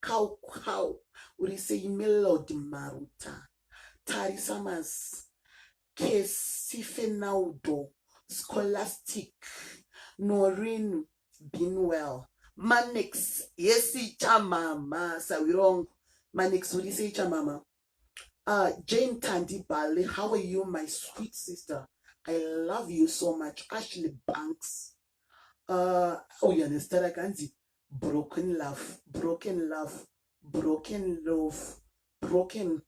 kau kau uri sei melody maruta tarisa mas kesifenaudo scholastic norin binwell manex yesi chamama sawirongo manex uri sei chamama uh, jane tandi bale how are you my sweet sister i love you so much ashley banks ah, auya nezita rake anzi broken love broken love broken love broken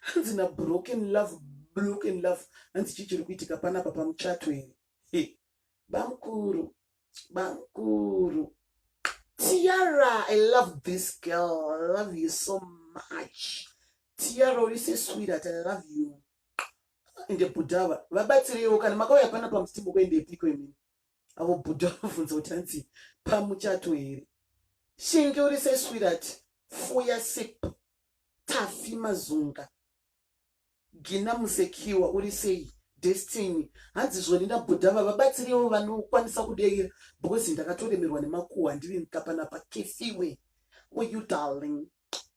hanzi na broken love broken love hanzi chii chiri kuitika panapa pamuchato here bamukuru bamukuru tiara i love this girl i love you so much tiara uri sesweetheart i love you ende bhuda ava vabatsireiwo kana makauya pana pamusimu kuendepiko imini avo bhuda vabvunza kuti hanzi pamuchato here shingi uri seswirati fuya sip tafi mazunga gina musekiwa uri sei destiny hanzi zvoni ndabhuda ava vabatsireiwo vanokwanisa kudeira because ndakatoremerwa nemakuhwa ndiri nkapanapa kefiwe uyu darling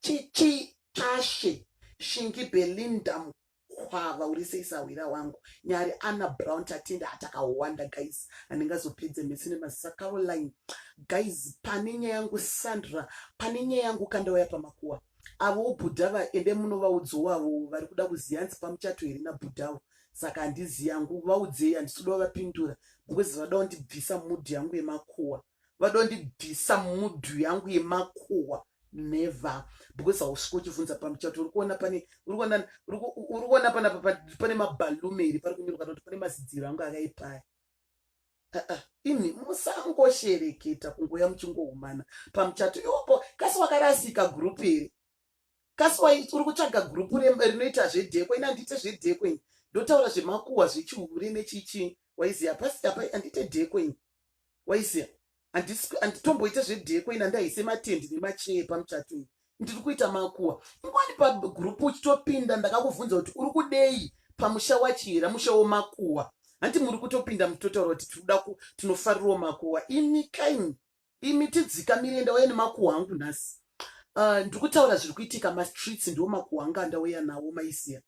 chichi tashe shingi belinda mukwava uri sei sahwira wangu nyari ana brown tatenda atakawanda guys handingazopedze mese nemazisa caroline guys pane nyaya yangu sandra pane nyaya yangu kandauya pamakuwa avo bhuda vaende munovaudzi wavo vari kuda kuziva hanzi pamuchato here nabhudhawo saka handizi yangu vaudzei handisi kuda vapindura because vada kundibvisa mudhi yangu yemakuwa vadondibvisa mudhu yangu yemakuwa never because hausvika uchivhunza pamuchato uri kuona pane uri kuona uri kuona pana pane mabalume iri pari kunyorwa kuti pane mazidziro angu akaipaya imi musangoshereketa kungoya muchingohumana pamuchato ioko kasi wakarasika gurupu iri kasiwa uri kutsvaga group rinoita zvedheko ini handite zvedheko ini ndotaura zvemakuwa zvechihure nechichi waiziya pasi apa handite dheko ini waiziya handitomboite zvedheko ini handaise matendi nemachee pamuchato ini ndiri kuita makuwa ingwani pagroup uchitopinda ndakakubvunza kuti uri kudei pamusha wachihera musha womakuwa hanti muri kutopinda mutotaura kuti tinoda tinofarirwa makuwa imi kaini imi tidzikamire ndauya nemakuhwa angu nhasi uh, ndikutaura zviri kuitika mastreets ndiwo makuhwa anga andauya nawo maisiya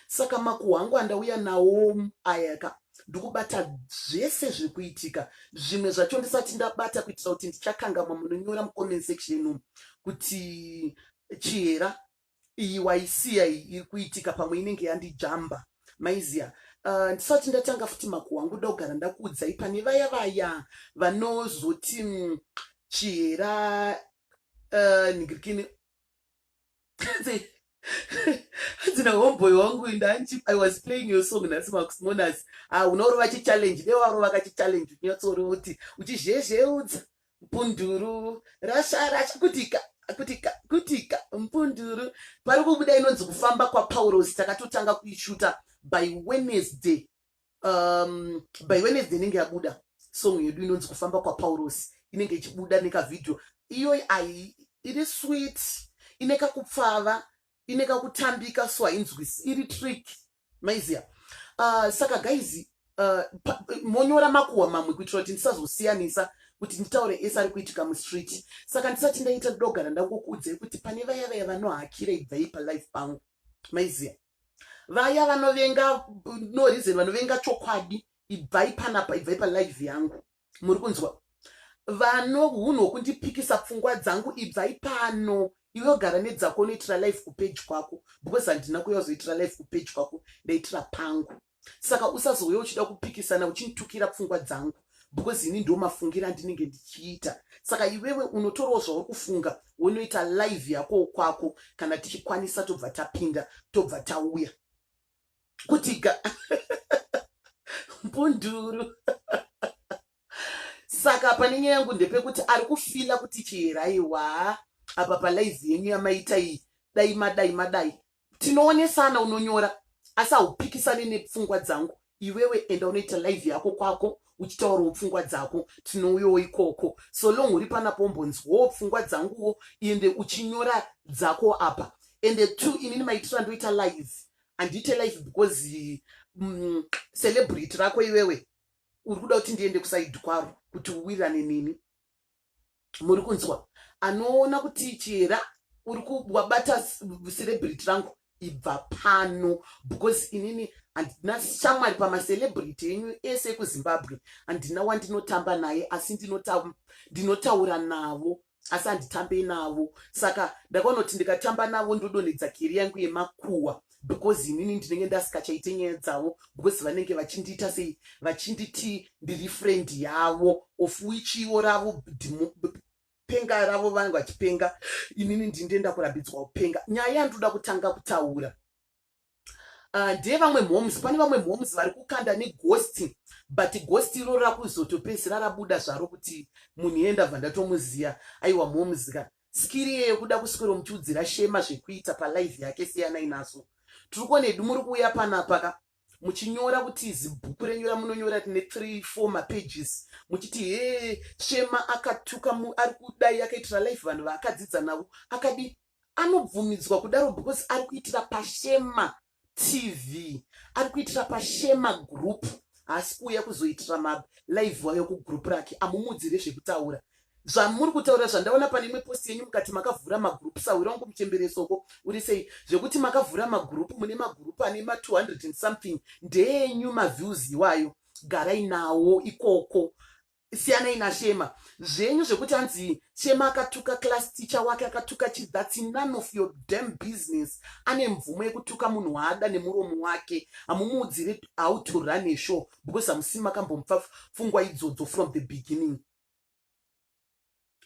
saka makuhwa angu andauya nawo ayaka ndikubata zvese zviri kuitika zvimwe zvacho ndisati ndabata kuitira kuti ndichakangamwa munonyora mucomment section inomu kuti chihera iyi waisiya iyi iri kuitika pamwe inenge yandijamba maiziya uh, ndisati ndatanga futi makuhwa angu da kugara ndakuudzai pane vaya vaya vanozoti mm, chihera uh, ningirikini hadzina homeboy wangu ndanji i was playing your song nhasi makusmonas ah, unorova chichallenge dewaro vakachichallenge unyatsoorova kuti uchizhezheudza mpunduru rasara kutika kutika kutika mpunduru pari kubuda inonzi kufamba kwapaurosi takatotanga kuishuta by wednesday um, by wednesday inenge yabuda song yedu inonzi kufamba kwapaurosi inenge ichibuda nekavhidhio iyoyi ai iri sweet ine kakupfava ine kakutambika so hainzwisi iri trick maiziya uh, saka guys uh, monyora makuhwa mamwe kuitira kuti ndisazosiyanisa kuti nditaure ese ari kuitika mustreet saka ndisati ndaita ndogara ndakukuudzai kuti pane vaya vaya vanohakira ibvai palife pangu maiziya vaya vanovenga no reason vanovenga chokwadi ibvai panapa ibvai palife yangu muri kunzwa vano hunhu hwokundipikisa pfungwa dzangu ibvai pano iwe ogara nedzako unoitira life kupeji kwako because handina kuya uzoitira life kupeji kwako ndaitira pangu saka usazouya uchida kupikisana uchinditukira pfungwa dzangu because ini ndo mafungira andinenge ndichiita saka iwewe unotorawo zvauri kufunga wonoita live yako kwako kana tichikwanisa tobva tapinda tobva tauya kuti ga mbunduru saka pane nyaya yangu ndepekuti ari kufila kuti chiherayiwa apa palaizi yenyu yamaita iyi dai madai madai tinoonesana unonyora asi haupikisane nepfungwa dzangu iwewe enda unoita live yako kwako uchitaurawo pfungwa dzako tinouyawo ikoko so long uri panapo umbonzwawo pfungwa dzanguwo ende uchinyora dzako apa ende two inini maitiro andoita live handiite live because mm, celebrity rako iwewe uri kuda kuti ndiende kusaidi kwaro kuti uwirane nini muri kunzwa anoona kuti chihera uri kuwabata celebrity rangu ibva pano because inini handina shamwari pamacelebrity enyu ese ekuzimbabwe handina wandinotamba naye asi ndinotaura navo asi handitambe navo saka ndakanoti ndikatamba navo ndodonhedza keri yangu yemakuwa because inini ndinenge ndasikachaite nyaya dzavo because vanenge vachindiita sei vachinditi ndiri friend yavo of which ivo ravo penga ravo vanenge vachipenga inini ndindienda kurambidzwa kupenga nyaya yandoda kutanga kutaura ah, ndeye vamwe mhoms pane vamwe mhoms vari kukanda negosti but gosti iroro rakuzotopedzisira rabuda zvaro kuti munhu yenda bva ndatomuziva aiwa mhomzika Skiri iyeyo kuda kuswero muchiudzira shema zvekuita palive yake siyanai naso. Tirikuona hedu muri kuuya panapaka muchinyora kuti zibhuku renyu ramunonyora tine 3 4 mapages muchiti hee shema akatuka ari kudai akaitira life vanhu vaakadzidza navo akadi anobvumidzwa kudaro because ari kuitira pashema TV ari kuitira pashema group haasi kuuya kuzoitira ma live wayo kugroup rake amumudzire zvekutaura zvamuri kutaura zvandaona pane imwe posti yenyu mukati makavhura magroup sahwira wangu muchemberesoko uri sei zvekuti makavhura magroup mune magroup ane ma 200 and something ndeenyu maviews iwayo garai nawo ikoko siyanai nashema zvenyu zvekuti hanzi shema akatuka class teacher wake akatuka chi thats none of your dam business ane mvumo yekutuka munhu waada nemuromo wake hamumuudzire how to run a show because hamusi makambomupfa fungwa idzodzo from the beginning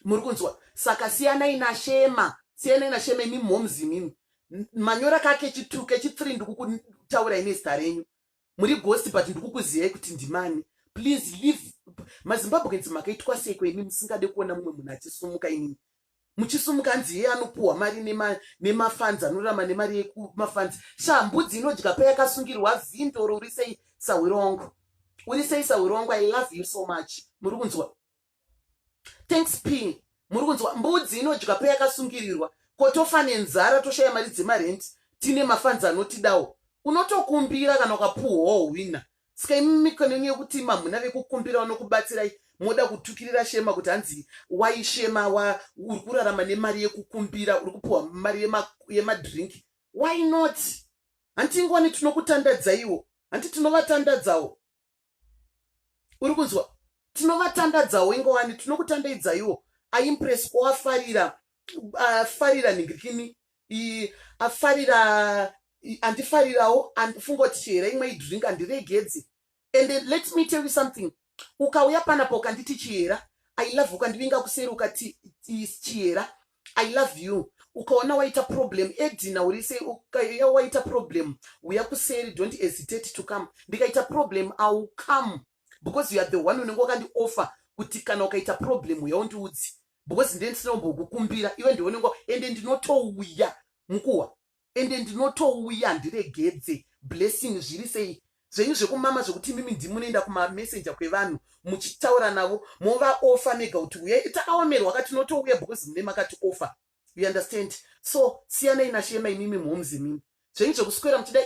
muri kunzwa saka siyanai nashema siyanai nashema imi momzi mimi manyora kake chituke chitsiri ndikukutaura ine zita renyu muri ghost but ndikukuziyai kuti ndimani please leave mazimbabweans makaitwa seiko imi musingade kuona mumwe munhu achisumuka inini muchisumuka hanzi yeye anopuhwa mari nemafanzi anorama nemari yekumafanzi shaa mbudzi inodya payakasungirwa vhindoro uri sei sahwiro wangu uri sei sahwiro wangu i love you so much muri kunzwa thanks ping muri kunzwa mbudzi inodya peyakasungirirwa ko tofa nenzara toshaya mari dzemarenti tine mafanzi anotidawo unotokumbira kana ukapuhwawo hwina ska imi mikonenyu yekuti mamhuna vekukumbira vanokubatsirai moda kutukirira shema kuti hanzi waishema wa uri kurarama nemari yekukumbira uri kupuhwa mari yemadrink yema why not hanti ingwani tinokutandadzaiwo hanti tinovatandadzawo uri kunzwa tinovatandadzawo ingowani tinokutandaidzaiwo aimpress ko afarira afarira nhingirikini afarira andifarirawo andifunga kuti chihera imwe idrink andiregedzi and let me tell you something ukauya panapa ukanditi chihera i love ukandivinga kuseri ukati chihera i love you ukaona waita problem edina uri sei ukaya waita problem uya kuseri don't hesitate to come ndikaita problem iwill come because you are the one unenge wakandioffer kuti kana ukaita problem uya undiudzi because ndee ndisina kumbokukumbira iwe ndiwe unenge ende ndinotouya mukuwa ende ndinotouya handiregedze blessing zviri sei zvenyu zvekumama zvekuti imimi ndimunoenda kumamessenger kwevanhu muchitaura navo movaofa mega kuti uyai takaomerwa ka tinotouya because mune makati ofa you understand so siyanai nashema imimi mhoms imimi zvenyu zvekuswera muchida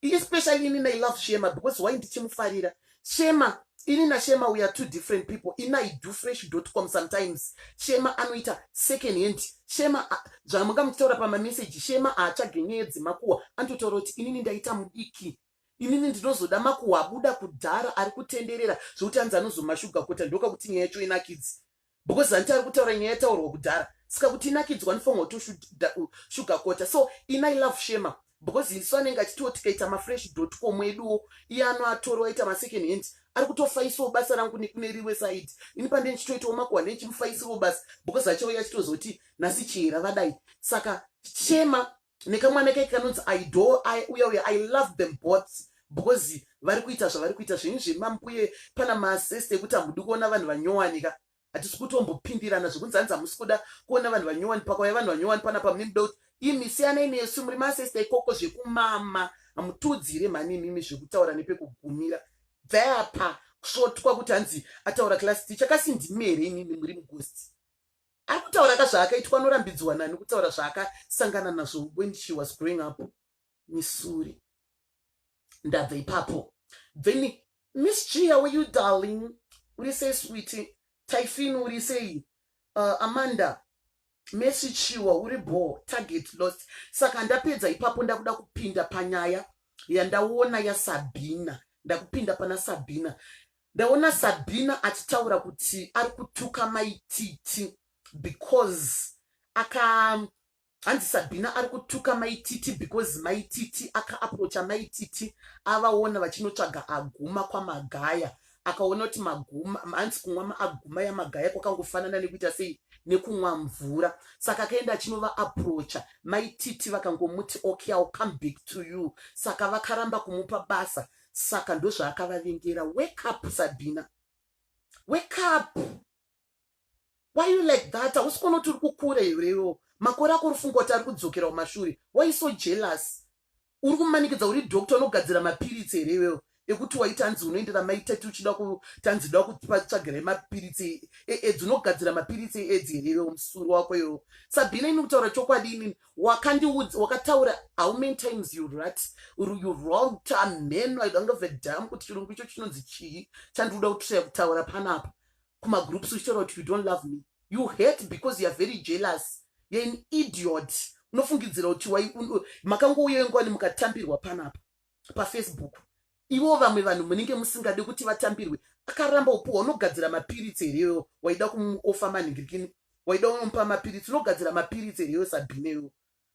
especially inini i love shema because why ndichimufarira Shema ini na Shema we are two different people ini I do fresh dot com sometimes Shema anoita second hand Shema zvamanga muchitaura pama message Shema haatsvage nyaya dzemakuwa antotaura kuti inini ndaita mudiki inini ndinozoda makuwa abuda kudhara ari kutenderera zvokuti anzi anozomashuga kota ndoka kuti nyaya yacho inakidzi because zanti ari kutaura nyaya yataurwa kudhara saka kuti inakidzwa nifongo to sugar kota so ina i love shema because isu anenge achitiwo tikaita mafresh dot com eduwo iye ano atoriwa aita masecond hand ari kutofaisawo basa rangu nekune riwe side ini pande ndichitoitawo makuhwa nechimufaisiwo basa because achauya achitozoti nasi chihera vadai saka shema nekamwana keke kanonzi idol i uya uya i love them both because vari kuita zvavari kuita zvenyu zvemambuye pana maseste ekuti hamudi kuona vanhu vanyowanika hatisi kutombopindirana zvekunzi hanzi hamusi kuda kuona vanhu vanyowani pakauya vanhu vanyowani panapa mune muda kuti imi siyanai nesu muri masesta ikoko zvekumama hamutiudzire mhani imimi zvekutaura nepekugumira bvayapa kusvotwa kuti hanzi ataura class ticha kasi ndimi here imimi muri mugosti Ari kutaura ka zvaakaitwa anorambidzwa nani kutaura zvaakasangana nazvo when she was growing up misuri ndabva ipapo then miss g how are you darling uri sei switi tyfin uri sei uh, amanda mesi chiwa uri bho target lost saka ndapedza ipapo ndakuda kupinda panyaya yandaona yasabhina ndakupinda pana sabhina Ndaona Sabina achitaura kuti ari kutuka mai Titi because aka hanzi Sabina ari kutuka mai Titi because mai Titi aka approacha mai Titi avaona vachinotsvaga aguma kwaMagaya akaona kuti maguma hanzi kumwa maaguma yaMagaya kwakangofanana nekuita sei nekumwa mvura saka akaenda achinova approacha mai Titi vakangomuti okay I'll come back to you saka vakaramba kumupa basa saka ndozvaakavavengera wake up sabhina wake up why you like that hausi kuona kuti uri kukura here iwo makore ako uri funga kuti ari kudzokera kumashure why so jealous uri kumanikidza uri doctor unogadzira mapiritsi here iwewo ekuti waita hanzi unoendera maitati uchida kutanzi da kupatsvagirai mapiritsi eedzi unogadzira mapiritsi eedzi here iwewo musuru wako iwewo sabhina ini kutaura chokwadi inini wakandiudza wakataura how many times you rat you wrong tamheno i don't have a dam kuti chirungu icho chinonzi chii chandikuda kutraya kutaura panapa kumagroups uchitaura kuti you don't love me you hate because youare very jealous youare an idiot unofungidzira kuti makangouya ingwani mukatambirwa panapa pafacebook ivo vamwe vanhu munenge musingade kuti vatambirwe akaramba upuwa unogadzira mapiritsi here iwewo waida kumuofa manhingirikini waida unomupa mapiritsi unogadzira mapiritsi here iwe sabhine iwewo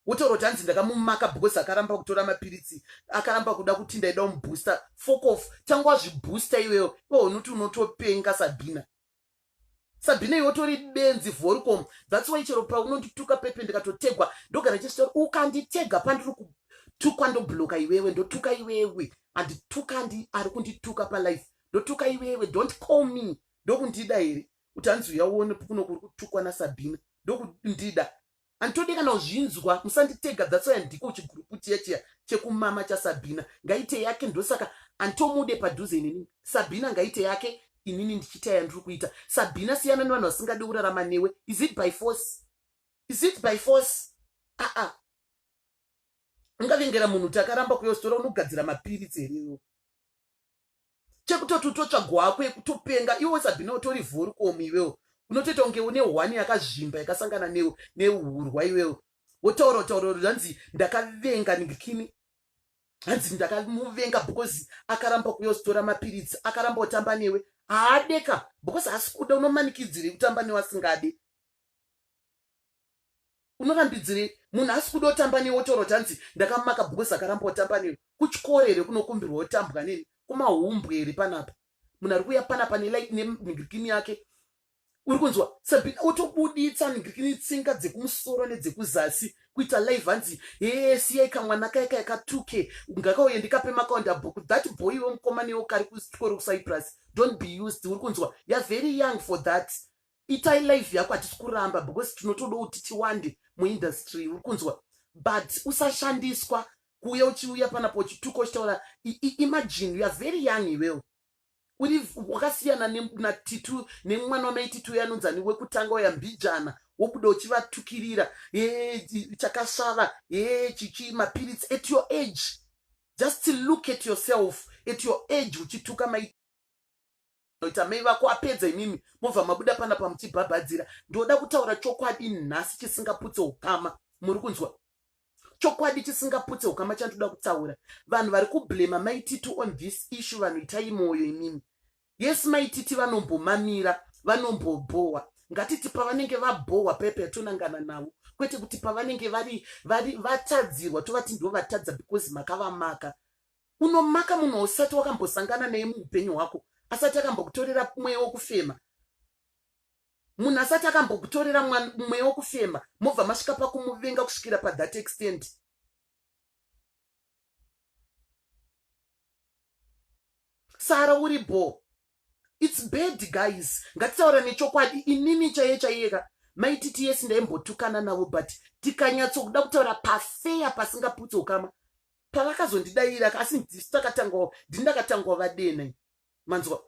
wotaura kuti hanzi ndakamumaka because akaramba kutora mapiritsi akaramba kuda kuti ndaida umubooster fokof tanga wazvibooster iwewo iwe unoti unotopenga sabhina sabhina iwe utori benzi vhorikom thats why chero paunondituka pepe ndikatotegwa ndogara chestor ukanditega pandiri kutukwa ndobloka iwewe ndotuka iwewe andituka andi ari kundituka palife ndotuka iwewe don't call me ndokundida here kuti hanzi uya uone kuno kuri kutukwa nasabhina ndokundida Handitode kana kuzvinzwa musanditega that's why ndiko chigroup chiya chiya chekumama chaSabina ngaite yake ndosaka anditomude padhuze inini Sabina ngaite yake inini ndichiita yandiri kuita Sabina siyana nevanhu vasingade kurarama newe is it by force is it by force aa ah, ah. ungavengera munhu kuti akaramba kuyostola unogadzira mapiritsi here iwo chekutoti utotsvagwa hako yekutopenga iwe usabhine utori vhorikomu iwewo unotoita kunge une hwani yakazvimba yakasangana neurwa iwewo wotaura taura hanzi ndakavenga ndikini hanzi ndakamuvenga because akaramba kuyositora mapiritsi akaramba kutamba newe haadeka because haasi kuda unomanikidzirei kutamba newe asingade unorambidzirei munhu asi kuda otamba newe otaura kuti hanzi ndakamaka because akaramba otamba newe kuchikoro here kunokumbirwa otambwa neni kumahumbwe here panapa munhu ari kuuya panapa nelike nemigirikini yake uri kunzwa sabina otobuditsa migirikini tsinga dzekumusoro nedzekuzasi kuita live hanzi hee siyai kamwana kaya kaya katuke ngakauye ndikape makaonda bhuku that boy iwe mukoma newo kari kuchikoro kucyprus don't be used uri kunzwa youare very young for that itai live yako hatisi kuramba because tinotoda kuti tiwande muindustry uri kunzwa but usashandiswa kuuya uchiuya panapo uchituka uchitaura imagine youare very young iwewo uri wakasiyana natitu nemwana wamaititu uyo anonzani wekutanga uya mbijana wobuda uchivatukirira e chakasvava e chichi mapiritsi at your age just look at yourself at your age uchituka mai ita mai vako apedza imimi mobva mabuda pana pamuchibhabhadzira ndinoda kutaura chokwadi nhasi chisingaputse ukama muri kunzwa chokwadi chisingaputse ukama chandoda kutaura vanhu vari kublema maititi on this issue vanhu itai mwoyo imimi yes maititi vanombomamira vanombobhowa ngatiti pavanenge vabhowa pepe yatonangana navo kwete kuti pavanenge vari vatadzirwa tovati ndo vatadza because makavamaka unomaka munhu ausati wakambosangana neye muupenyu hwako asati akambokutorera mweya wokufema munhu asati akambokutorera mweya wokufema mobva masvika pakumuvenga kusvikira pathat extent sara uri bho its bad guys ngatitaura nechokwadi inini chaiye chaiyeka maititi yesi ndaimbotukana navo but tikanyatsokuda kutaura pafeya pasingaputse ukama pavakazondidaira asi ndisu takatangawo ndindakatangawo vadena manzwa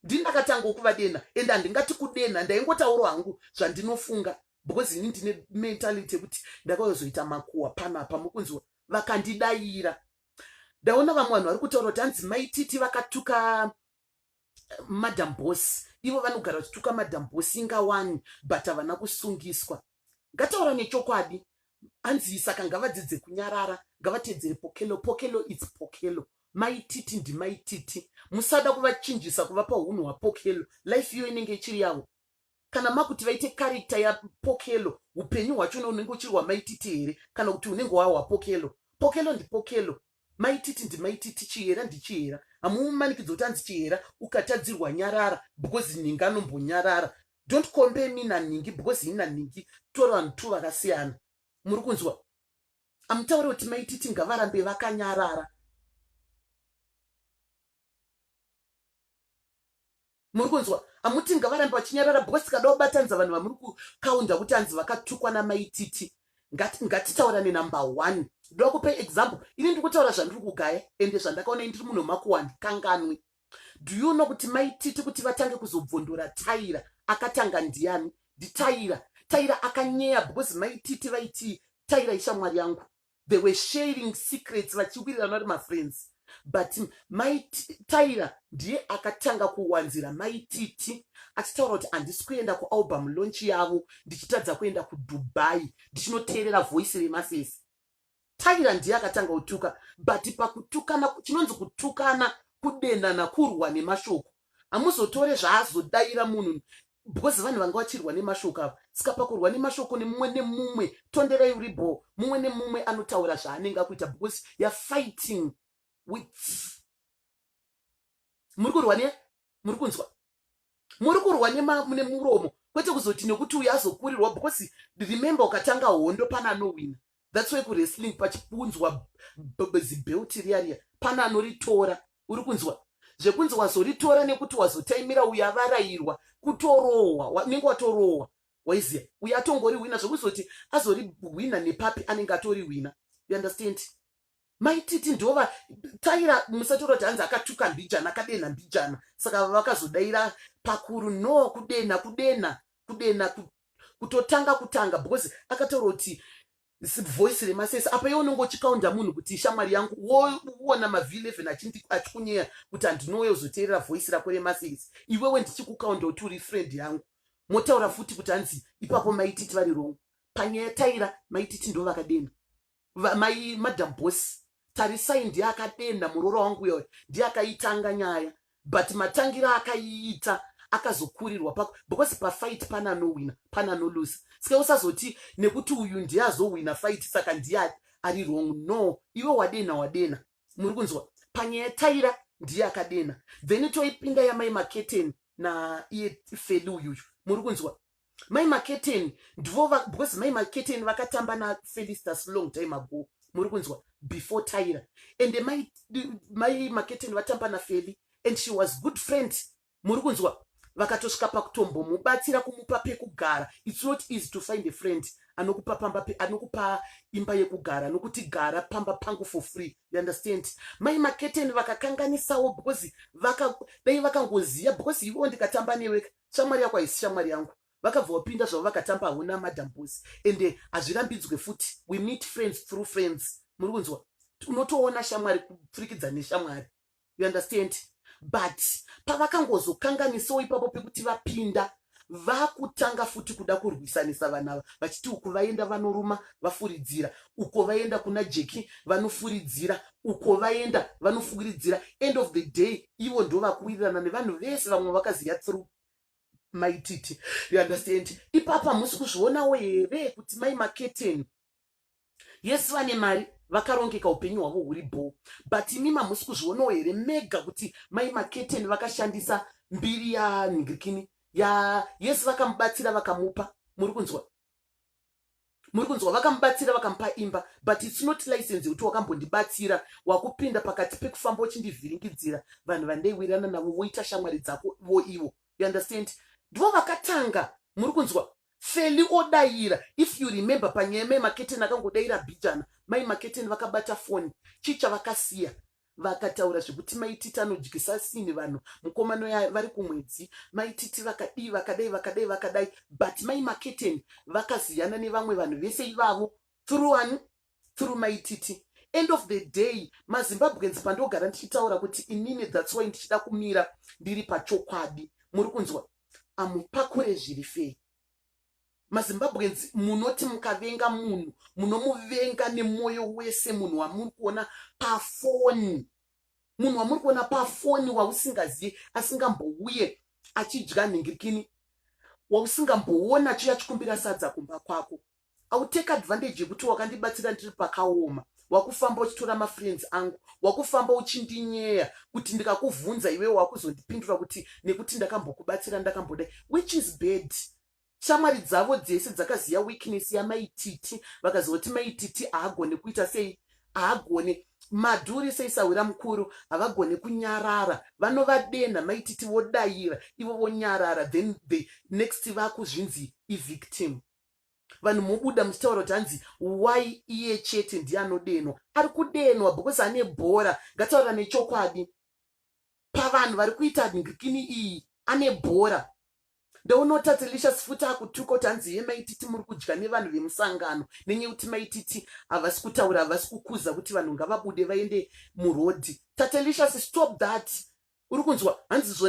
ndindakatangawo kuvadena ende handingati kudena ndaingotauro hangu zvandinofunga because ini ndine mentality yekuti ndakaozoita makuwa pano apa mukunzwa vakandidaira ndaona vamwe vanhu vari kutaura kuti hanzi maititi vakatuka madam boss ivo vanogara vachituka madam boss inga wani but havana kusungiswa ngataura nechokwadi hanzi saka ngavadzidze kunyarara ngavatedzere pokelo pokelo its pokelo maititi ndimaititi musada kuvachinjisa kuvapa unhu hwapokelo life iyo inenge ichiri yavo kana makuti vaite karikta yapokelo upenyu hwacho unenge uchiri wamaititi here kana kuti unenge wahwapokelo pokelo ndipokelo maititi ndimaititi chihera ndichihera hamuumanikidzo kuti anzi chihera ukatadzirwa nyarara because nhingi anombonyarara don't compare me nanhingi because ini nanhingi tori vanhu two vakasiyana muri kunzwa amutaure kuti maititi ngavarambe vakanyarara muri kunzwa amuti ngavarambe vachinyarara because tikada kubatanidza vanhu vamuri kukaunda kuti hanzi vakatukwa namaititi ngatitaurane number one ndoda kupe example ini ndiri kutaura zvandiri kugaya ende zvandakaona ndiri munhu makuwani kanganwi do you know kuti maititi kuti vatange kuzobvondora taira akatanga ndiani nditaira taira akanyeya because maititi vaitii taira ishamwari yangu they were sharing secrets vachiwirirana vari mafriends but mai tyra ndiye akatanga kuwanzira mai titi achitaura kuti handisi kuenda kualbum launch yavo ndichitadza kuenda kudubai ndichinoteerera voice remasese tyra ndiye akatanga kutuka but pakutukana chinonzi kutukana kudenana kurwa nemashoko hamuzotore zvaazodaira munhu because vanhu vanga vachirwa nemashoko avo saka pakurwa nemashoko nemumwe nemumwe tonderai uri bho mumwe nemumwe anotaura zvaanenge akuita because youare fighting with muri kurwa ne muri kunzwa muri kurwa nemuromo kwete kuzoti nekuti uyo azokurirwa because remember ukatanga hondo pane anowina thats why kuwrestling pachikunzwa zibheuti riya riya pana anoritora uri kunzwa zvekunzi wazoritora nekuti wazotaimira uyo avarayirwa kutorohwa unenge watorohwa waiziva uyo atongori hwina zvekuzoti azorihwina nepapi anenge atori hwina you understand maititi ndova taira musatora kuti hanzi akatuka mbijana akadenha mbijana saka vakazodaira pakuru no kudena kudena kudena kutotanga kutanga because akataura kuti voice remasese apa iwe unenge uchikaunda munhu kuti ishamwari yangu woona mav11 achikunyeya kuti handinouya uzoteerera voice rako remasese iwewe ndichikukaunda kuti uri friend yangu motaura futi kuti hanzi ipapo maititi vari rongo panyaya taira maititi ndo vakadena mai madam boss tarisai ndiye akadenha muroora wangu uyo ndiye akaitanga nyaya but matangira akaiita akazokurirwa pako because pafight pane anowina pane anolusa sike usazoti nekuti uyu ndiye azowina fight saka ndiye ari wrong no iwe wadenha wadenha muri kunzwa panyaya taira ndiye akadenha then toipinda yamai maketeni naiye feli uyuyu muri kunzwa mai maketeni ndivo because mai maketeni vakatamba nafelistas long time ago muri kunzwa before tyra and mai, mai maketeni vatamba nafeli and she was good friend muri kunzwa vakatosvika pakutombomubatsira kumupa pekugara its not easy to find a friend anokupa pamba anokupa imba yekugara nokuti gara pamba pangu for free you understand mai maketeni vakakanganisawo because vaka dai vakangoziva because ivo ndikatamba newe shamwari yako haisi shamwari yangu vakabva vapinda zvavo vakatamba hauna madam boss ende eh, hazvirambidzwe futi we meet friends through friends muri kunzwa unotoona shamwari kupfurikidza neshamwari you understand but pavakangozokanganisawo ipapo pekuti vapinda vakutanga futi kuda kurwisanisa vana ava vachiti uku vaenda vanoruma vafuridzira uko vaenda kuna jeki vanofuridzira uko vaenda vanofukiridzira end of the day ivo ndo vakuwirirana nevanhu vese vamwe vakaziva through maititi you understand ipapa musi kuzvionawo here kuti mai maketeni yes vane mari vakarongeka upenyu hwavo huri bho but imi mamusi kuzvionawo here mega kuti mai maketeni vakashandisa mbiri yanhirikini ya yes vakamubatsira vakamupa muri kunzwa muri kunzwa vakamubatsira vakamupa imba but its not license yekuti wakambondibatsira wakupinda pakati pekufamba uchindivhiringidzira vanhu vandaiwirana navo voita shamwari dzako vo ivo you understand ndivo vakatanga muri kunzwa feli odaira if you remember panyaya mai maketeni akangodaira bijana mai maketeni vakabata foni chicha vakasiya vakataura zvekuti maititi anodyisa sini vanhu mukomano vari kumwedzi maititi vakadii vakadai vakadai vakadai but mai maketeni vakaziyana nevamwe vanhu vese ivavo through ani through maititi end of the day mazimbabweans pandogara ndichitaura kuti inini thats why ndichida kumira ndiri pachokwadi muri kunzwa amupakure zviri fei mazimbabweans munoti mukavenga munhu munomuvenga nemwoyo wese munhu wamuri kuona pafoni munhu wamuri kuona pafoni wausingazivi asingambouye achidya nhingirikini wausingamboona chiya chikumbira sadza kumba kwako autake advantage yekuti wakandibatsira ndiri pakaoma wakufamba uchitora mafriends angu wakufamba uchindinyeya kuti ndikakuvhunza iwewe wakuzondipindura kuti nekuti ndakambokubatsira ndakambodai which is bad shamwari dzavo dzese dzakaziva weakness yamaititi vakazoti maititi haagone kuita sei haagone madhuri seisahwira mukuru havagone kunyarara vanovadenha maititi vodayira ivo vonyarara then the next vakuzvinzi ivictim vanhu mobuda muchitaura kuti hanzi why iye chete ndiye anodenwa ari kudenwa because ane bhora ngataura nechokwadi pavanhu vari kuita ngikini iyi ane bhora ndounoti atilicious futi akutuka kuti hanzi ye maititi muri kudya nevanhu vemusangano nenyaya yekuti maititi havasi kutaura havasi kukuza kuti vanhu ngavabude vaende murodhi tatelicious stop that uri kunzwa hanzi zvo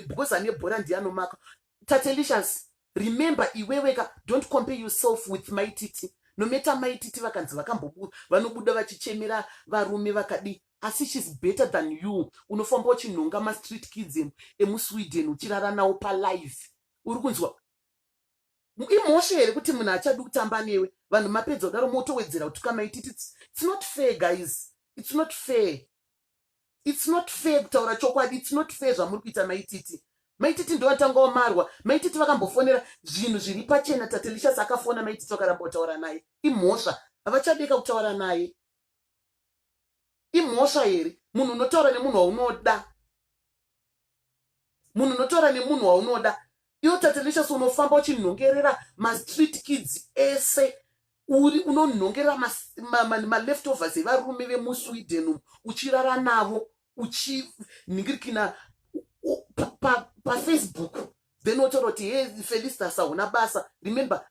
because ane bhora ndiye anomaka tatelicious remember iweweka don't compare yourself with mai titi nometa mai titi vakanzi vakambobuda vanobuda vachichemera varume vakadii asi shes better than you unofamba uchinhonga mastreet kids emusweden uchirara nawo palive uri kunzwa imhosva here kuti munhu achadi kutamba newe vanhu mapedza kudaro motowedzera kutuka maititi its not fair guys its not fair It's not fair kutaura chokwadi. It's not fair zvamuri kuita mai Titi. Mai Titi ndovatangawo marwa. Mai Titi vakambofonera zvinhu zviri pachena Tatelicious akafona mai Titi vakaramba kutaura naye. Imhosva. Havachadeka kutaura naye. Imhosva here? Munhu unotaura nemunhu waunoda. munhu unotaura nemunhu waunoda iwo tatelesus unofamba uchinhongerera mastreet kids ese uri unonhongerera maleftovers ma, ma, ma evarume vemusweden umu uchirara navo uchinhingirikina pafacebook pa, pa then wotaura kuti he felistas hauna basa remember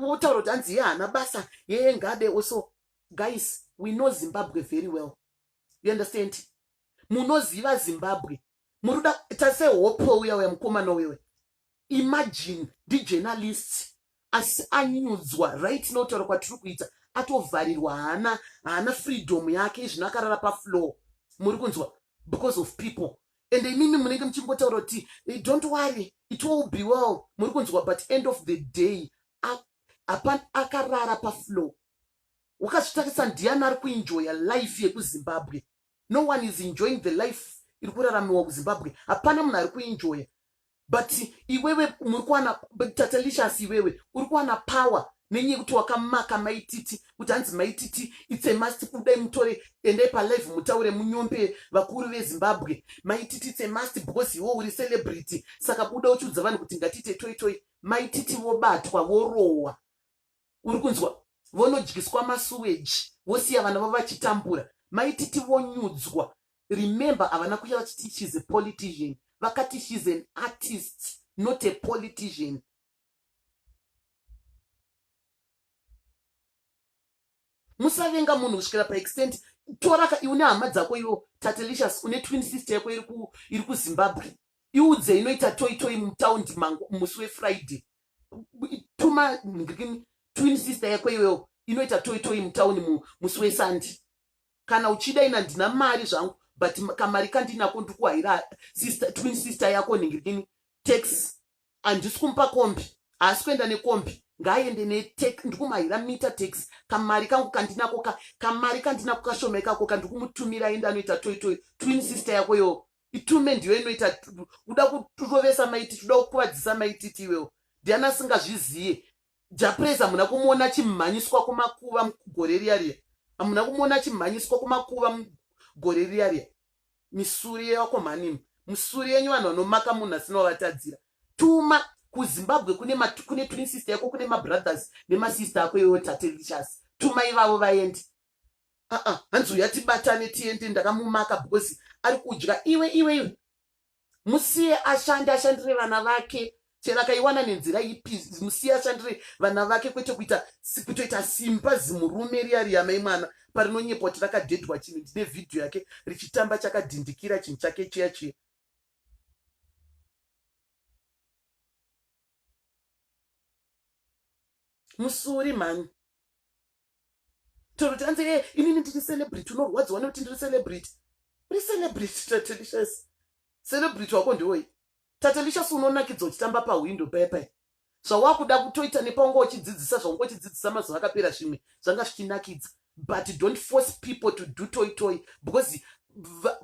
wotaura kuti hanzi ye haana basa yeye ngade also guys we know zimbabwe very well you understand munoziva zimbabwe muri kuda kuita sehope uya uya mukomana uyoyo imagine ndijournalist asi anyudzwa right notaura kwatiri kuita atovharirwa haana haana freedom yake izvino akarara pafloor muri kunzwa because of people and imimi munenge muchingotaura kuti eh, don't worry it will be well muri kunzwa but end of the day akarara pafloor wakazvitarisa ndiani ari kuenjoya life yekuzimbabwe no one is enjoying the life iri kuraramiwa kuzimbabwe hapana munhu ari kuenjoya but iwewe muri kuwana tatelicious iwewe uri kuwana power nenyaya yekuti wakamaka maititi kuti hanzi maititi itsemasti kudai mutore endai palive mutaure munyombe vakuru vezimbabwe maititi itsemasti because iwo uri celebrity saka buda uchiudza vanhu kuti ngatiite toitoi maititi vobatwa vorohwa uri kunzwa vonodyiswa masuweji vosiya vana vavo vachitambura maititi vonyudzwa remember havana kuya vachiti shes a politician vakati shes an artist not a politician musavenga munhu kusvikira paextent toraka iwe nehama dzako iwo tatelicious une twin sister yako iri kuzimbabwe iudze inoita toitoi mutaundi mangu musi wefriday tuma twin sister yako iwewo inoita toitoi mutaundi musi wesandi kana uchida ina ndina mari zvangu but kamari kandinako ndikuhaira twin sister yako nhingirini tax handisi kumupa kombi haasi kuenda nekombi ngaaende netek ndikumuhaira mita tax kamari kangu kandinako ka kamari kandinako kashoma ikako ka ndikumutumira aende anoita toitoi twin sister yako yoo itume ndiyo inoita uda kurovesa maititi uda kukuvadzisa maititi iwewo ndiani asingazviziye japraise hamuna kumuona chimhanyiswa kumakuva gore riya riya hamuna kumuona chimhanyiswa kumakuva gore riya riya misuri yevakomhanimi musuri yenyu vanhu vanomaka munhu asina wavatadzira tuma kuzimbabwe kune kune twin sister yako kune mabrothers nemasister ako iwewo tate richas tuma ivavo vaende aa hanzi uya tibatane tiende ndakamumaka because ari kudya iwe iwe iwe musiye ashande ashandire vana vake chero akaiwana nenzira ipi musiya ashandire vana vake kwete kuita kutoita simba zimurume riya riyamai mwana parinonyepwa kuti rakadhedhwa chinhu ndine vhidhiyo yake richitamba chakadhindikira chinhu chake chiya chiya musuri mhani toti anzi e eh, inini ndiri celebrity unorwadziwa nekuti ndiri celebrity uri celebrity tatelicious celebrity wako ndiwoi tatelicious unonakidzwa uchitamba pahwindo pepe zvawakuda kutoita nepaunga uchidzidzisa zvaunga uchidzidzisa mazuva akapera zvimwe zvanga zvichinakidza but don't force people to do toy toy because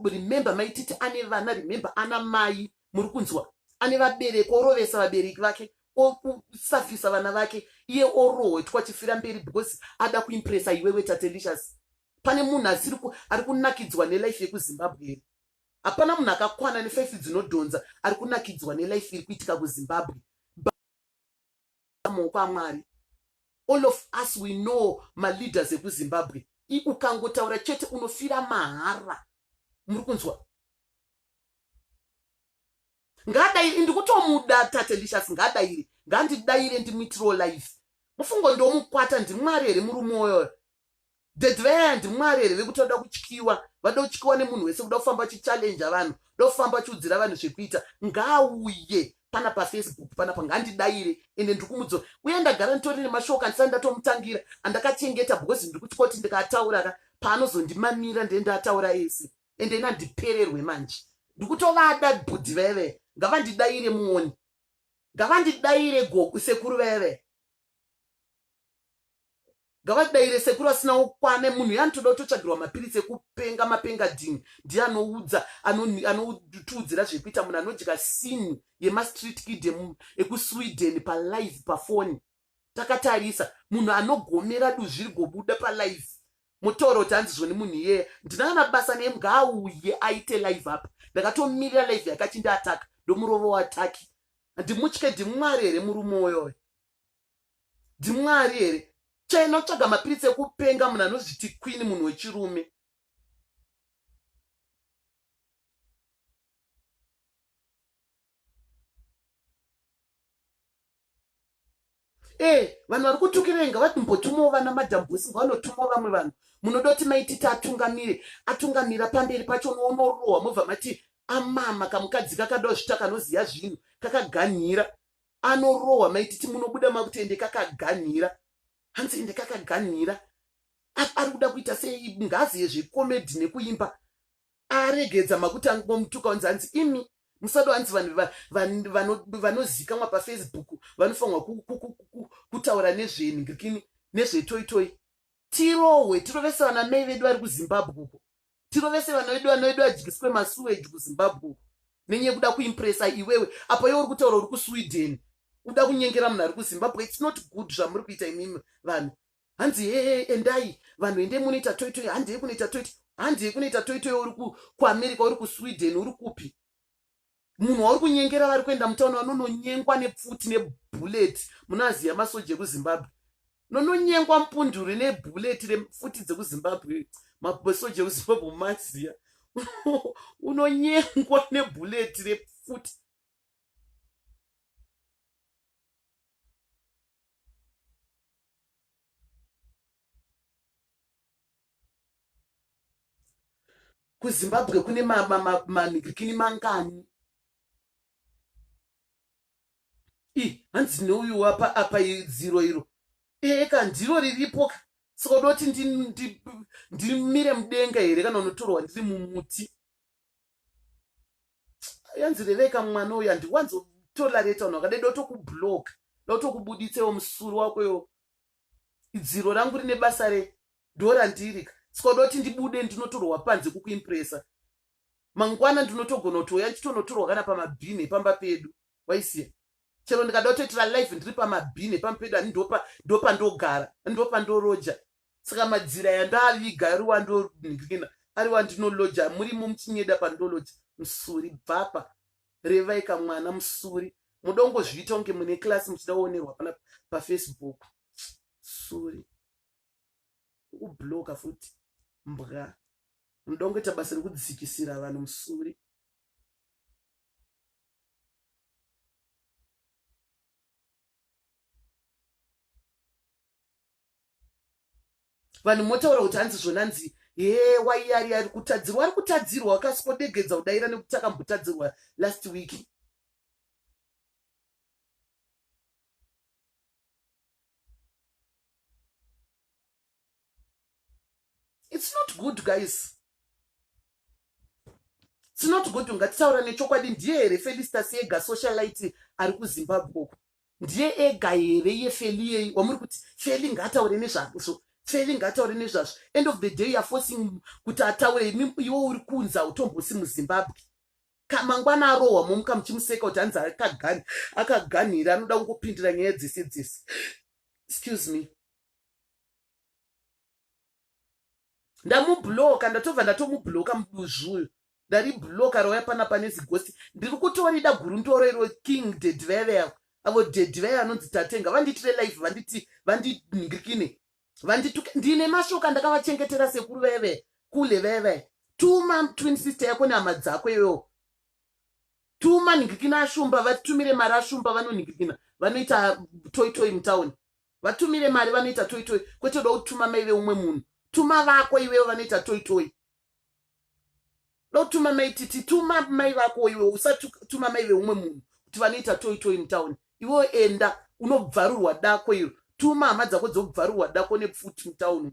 remember maititi ane vana remember ana mai muri kunzwa ane vabereki orovesa vabereki vake okusafisa vana vake iye orohwetwa chifira mberi because ada kuimpresa iwewe tatelicious pane munhu asiri ari kunakidzwa nelife yekuzimbabwe here hapana munhu akakwana nefaifi dzinodhonza ari kunakidzwa nelife iri kuitika kuzimbabwe muoko amwari all of us we know maleaders ekuzimbabwe ukangotaura chete unofira mahara muri kunzwa ngaadairi ndikutomuda tatelicious ngaadairi ngandidaire ndimuitiro life mufungo ndomukwata ndimwari here muri mwoyo the giant mwari here vekuti vada kutyiwa vada kutyiwa nemunhu wese kuda kufamba chichallenja vanhu da kufamba chiudzira vanhu zvekuita ngaauye pana pafacebook pana pangandidaire ende ndiri kumudzo uye ndagara nditori nemashoko andisati ndatomutangira andakachengeta because ndiri kutya kuti ndikatauraka paanozondimamira ndee ndataura ese ende ina ndipererwe manje ndiri kutovada bhudhi veve ngavandidaire muoni ngavandidaire goku sekuru veve ngavadaire sekuru asina ukwane munhu yanotoda kutotsvagirwa mapiritsi ekupenga mapenga dhini ndiye anoudza anotiudzira zvekuita munhu anodya sini yemastreet kid ekusweden palive pafoni takatarisa munhu anogomera duzviri gobuda palive mutooro kuti hanzi zvoni munhu iyeye ndina kana basa neye ngaauye aite live apa ndakatomirira live yakati ndaataka ndomurovo wataki ndimutye ndimwari here murume uyoyo ndimwari here chena kutsvaga mapiritsi ekupenga munhu anozviti kwini munhu wechirume Eh, vanhu vari kutukirei ngavati mbotumawo vana madam bosi ngavanotumawo vamwe vanhu munoda kuti maititi atungamire atungamira pamberi pacho noonorohwa mobva mati amama kamukadzi kakadawo zvita kanoziva zvinhu kakaganhira anorohwa maititi munobuda makuti ende kakaganhira hanzi ende kakaganhira ari kuda kuita sei ngazi yezvekomedhi nekuimba aregedza makuti angomutuka onzi hanzi imi musado hanzi vanhu vanozikamwa pafacebook vanofanirwa kutaura nezvenhingirikini nezvetoitoi tirohwe tirovese vana mai vedu vari kuzimbabwe uko tirovese vana vedu vana vedu vadyiswe masuweji kuzimbabwe uko nenyaya kuda kuimpresa iwewe apo iwe uri kutaura uri kusweden uda kunyengera munhu ari kuzimbabwe its not good zvamuri kuita imimi vanhu hanzi hee endai vanhu ende munoita toitoi handei kunoita toiti handei kunoita toitoi uri kuamerica uri kusweden uri kupi munhu wauri kunyengera vari kuenda mutauni vanononyengwa nepfuti nebullet munoaziva masoja ekuzimbabwe nononyengwa mpunduri nebullet repfuti dzekuzimbabwe masoja ekuzimbabwe mumaziva unonyengwa nebullet repfuti kuzimbabwe kune manhikikini mangani i hanzi neuyu wapa apa dziro iro ee ka ndiro riripo ka saka uda kuti ndimire mudenga here kana unotorwa ndiri mumuti yanzi reveka mwana uyu handiwanzo tolerate vanhu vakadai dotokublock dotokubuditsewo musuru wako yo dziro rangu rine basa re dora ndirika sikodoti ndibude ndinotorwa panze kukuimpresa mangwana ndinotogona kutouya ndichitonotorwa kana pamabhini epamba pedu waisiya chero ndikada kutoitira life ndiri pamabhini epamupedo ani ndopa ndopa ndogara ndopa ndoroja saka madzira yandaviga ari wandonhikina ari wandinoloja murimo muchinyeda pandoloja musuri bvapa revaika mwana musuri mudongozviita kunge mune klasi muchida kuonerwa pana pafacebook suri kubloka futi mbwa munoda kungoita basa rekudzikisira vanhu musuri vanhu motaura kuti hanzi zvona nzi hee waiyari ari kutadzirwa ari kutadzirwa wakasikodegedza kudaira nekuti akambotadzirwa last week its not good guys tinoti kuti ungatitaura nechokwadi ndiye here felistas ega socialite ari kuzimbabwe uku ndiye ega here iye feli yei wamuri kuti feli ngaataure nezvazvo feli ngaataure nezvazvo end of the day youare forcing kuti ataure imi iwo uri kunzi hautombosi muzimbabwe kamangwana arohwa momuka muchimuseka kuti hanzi akagani akaganhira anoda kungopindira nyaya dzese dzese excuse me ndamubloka ndatobva ndatomubloka muduzvi uyu ndaribloka rauya pana pane zigosti ndiri kutorida gurundoro iro king dediveve avo avo dediveve anonzi tatenga vandiitire life vanditi vandiningirikine vandituke ndine mashoka ndakavachengetera sekuru veve kule veve tuma twin sister yako nehama dzako iyoyo tuma ningirikina ashumba vatumire mari ashumba vanoningirikina vanoita toitoi mutauni vatumire mari vanoita toi toi kwete uda kutuma mai veumwe munhu tuma vako iwewo vanoita toi toi dotuma mai titi tuma mai vako iwe usatuma mai veumwe munhu kuti vanoita toi toi mutown iwewo enda unobvarurwa dako iro tuma hama dzako dzobvarurwa dako nepfuti mutown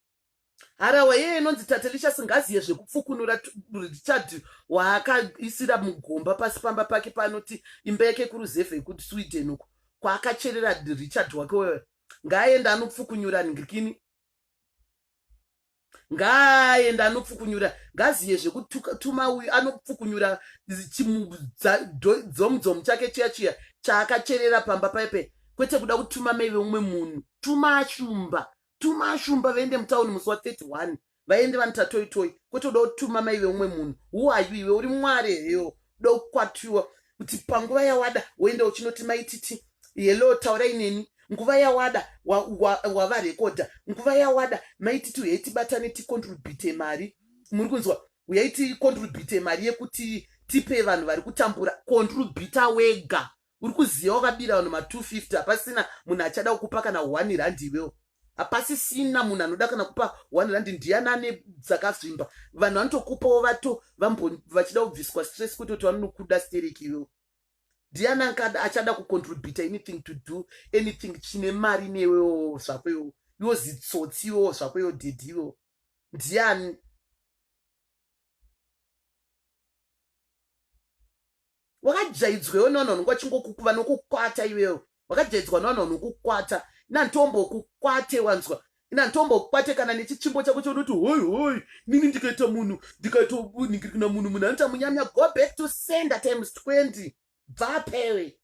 harawa yeye inonzi tatelisha singaziye zvekupfukunura richard waakaisira mugomba pasi pamba pake paanoti imba yake kuruzevha yekuti sweden uko kwaakacherera richard wake wewe ngaaende anopfukunyura ngikini ngaaende anopfukunyura ngaziye zvekutuma uyu anopfukunyura chimudzomudzomu chake chiya chiya chaakacherera pamba paipe kwete kuda kutuma mai veumwe munhu tuma shumba tuma ashumba vaende mutauni musi wa 31 vaende vanita toi toi kwete uda kutuma mai veumwe munhu who are you iwe uri mwari heyo uda kukwatiwa kuti panguva yawada woenda uchinoti maititi hello taurai neni nguva yawada wavarekodha wa, wa nguva yawada maititi uyai tibatane ticontribute mari muri kunzwa uyai ticontribute mari yekuti tipe vanhu vari kutambura contributa wega uri kuziva wakabira vanhu ma 250 hapasina munhu achada kukupa kana one rand iwewo hapasisina munhu anoda kana kupa one rand ndiyani ane dzakazvimba vanhu vanotokupawo vato vachida kubviswa stress kutoti vanonokuda stereki iwewo ndiyani ankada achada kucontribute anything to do anything chine mari newewo zvako iwewo iwo zitsotsi iwewo zvako iwo dhedhi iwewo ndiyani wakajaidzwewo nevanhu vanonga vachingokukuva nokukwata iwewo wakajaidzwa nevanhu vanokukwata inantombokukwate wanzwa inantombokukwate kana nechichimbo chako chaunoti hoi hoi nini ndikaita munhu ndikaitounhingiri kuna munhu munhu anoita munyamya go back to sender times 20 bva pere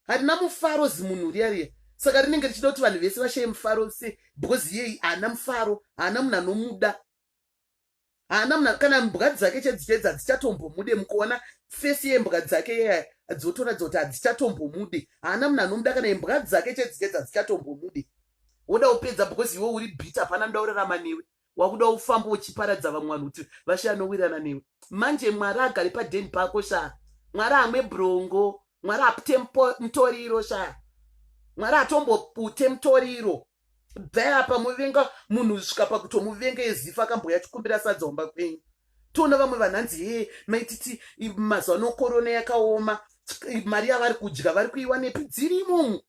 harina mufaro zimunhu riya riya saka rinenge richida kuti vanhu vese vashaye mufaro se because yei haana mufaro haana munhu anomuda haana mna kana mbwa dzake chedzitedza hadzichatombomude mukuona fesi yembwa dzake yaya dzotoratidza kuti hadzichatombomude haana mna anomuda kana imbwa dzake chedzitedza hadzichatombomude woda kupedza because iwe uri bit hapana nda urarama newe wakuda ufamba uchiparadza vamwe vanhu kuti vashe anowirana newe manje mwari agari padeni pako shaa mwari amwe brongo mwari apute mutoriro shaa mwari atombopute mutoriro bvai apa muvenga munhu svika pakutomuvenga ezifa akamboya chikumbira sadzaomba kwenyu toona vamwe vanhu hanzi hee maititi mazuva nokorona yakaoma mari yavari kudya vari kuiwanepi dzirimo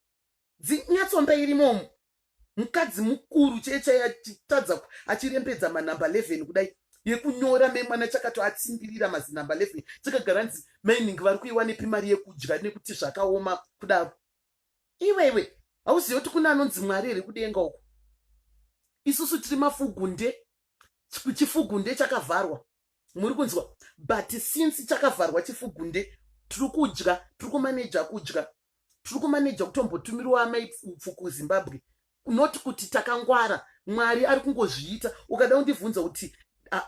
dzinyatsomba irimomo mukadzi mukuru chee chaiye achitadza achirembedza manumber 11 kudai yekunyora memwana chakato atsimbirira mazinumber 11 chakagara nzi maining vari kuiwanepi mari yekudya nekuti zvakaoma kudaro iwewe hauzivi kuti kune anonzi mwari here kudenga uko isusu tiri mafugunde chifugunde chakavharwa muri kunzwa but since chakavharwa chifugunde tiri kudya tiri kumaneja kudya tiri kumaneja kutombotumirwa amai pfupfu kuzimbabwe not kuti takangwara mwari ari kungozviita ukada kundibvunza kuti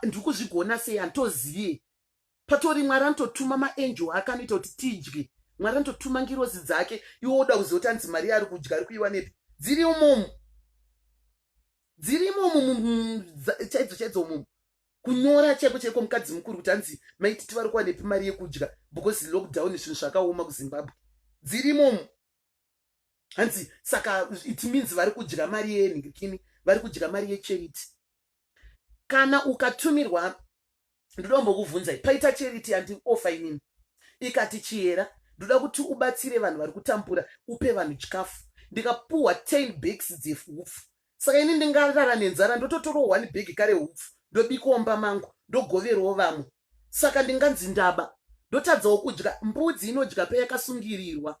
ndiri kuzvigona sei hantozive patori mwari anototuma maangel ake anoita kuti tidye mwari anototuma ngirozi dzake iwo oda kuziva kuti anzi mari yaari kudya ari kuiwanepi dziri umomu dziri imomu chaidzo chaidzo umomu kunyora chaiko chaiko mukadzi mukuru kuti hanzi maititi vari kuwanepi mari yekudya because lockdown zvinhu zvakaoma kuzimbabwe dzirimomu hanzi saka it means vari kudya mari yenhikini vari kudya mari yecharity kana ukatumirwa ndoda kumbokuvhunzai paita charity yandiofa inini ikati chihera ndoda kuti ubatsire vanhu vari kutambura upe vanhu chikafu ndikapuhwa 10 bags dzehupfu saka ini ndingarara nenzara ndototorawo one bag kare hupfu ndobikawo mba mangu ndogoverwo vamwe saka ndinganzi ndaba ndotadzawo kudya mbudzi inodya peyakasungirirwa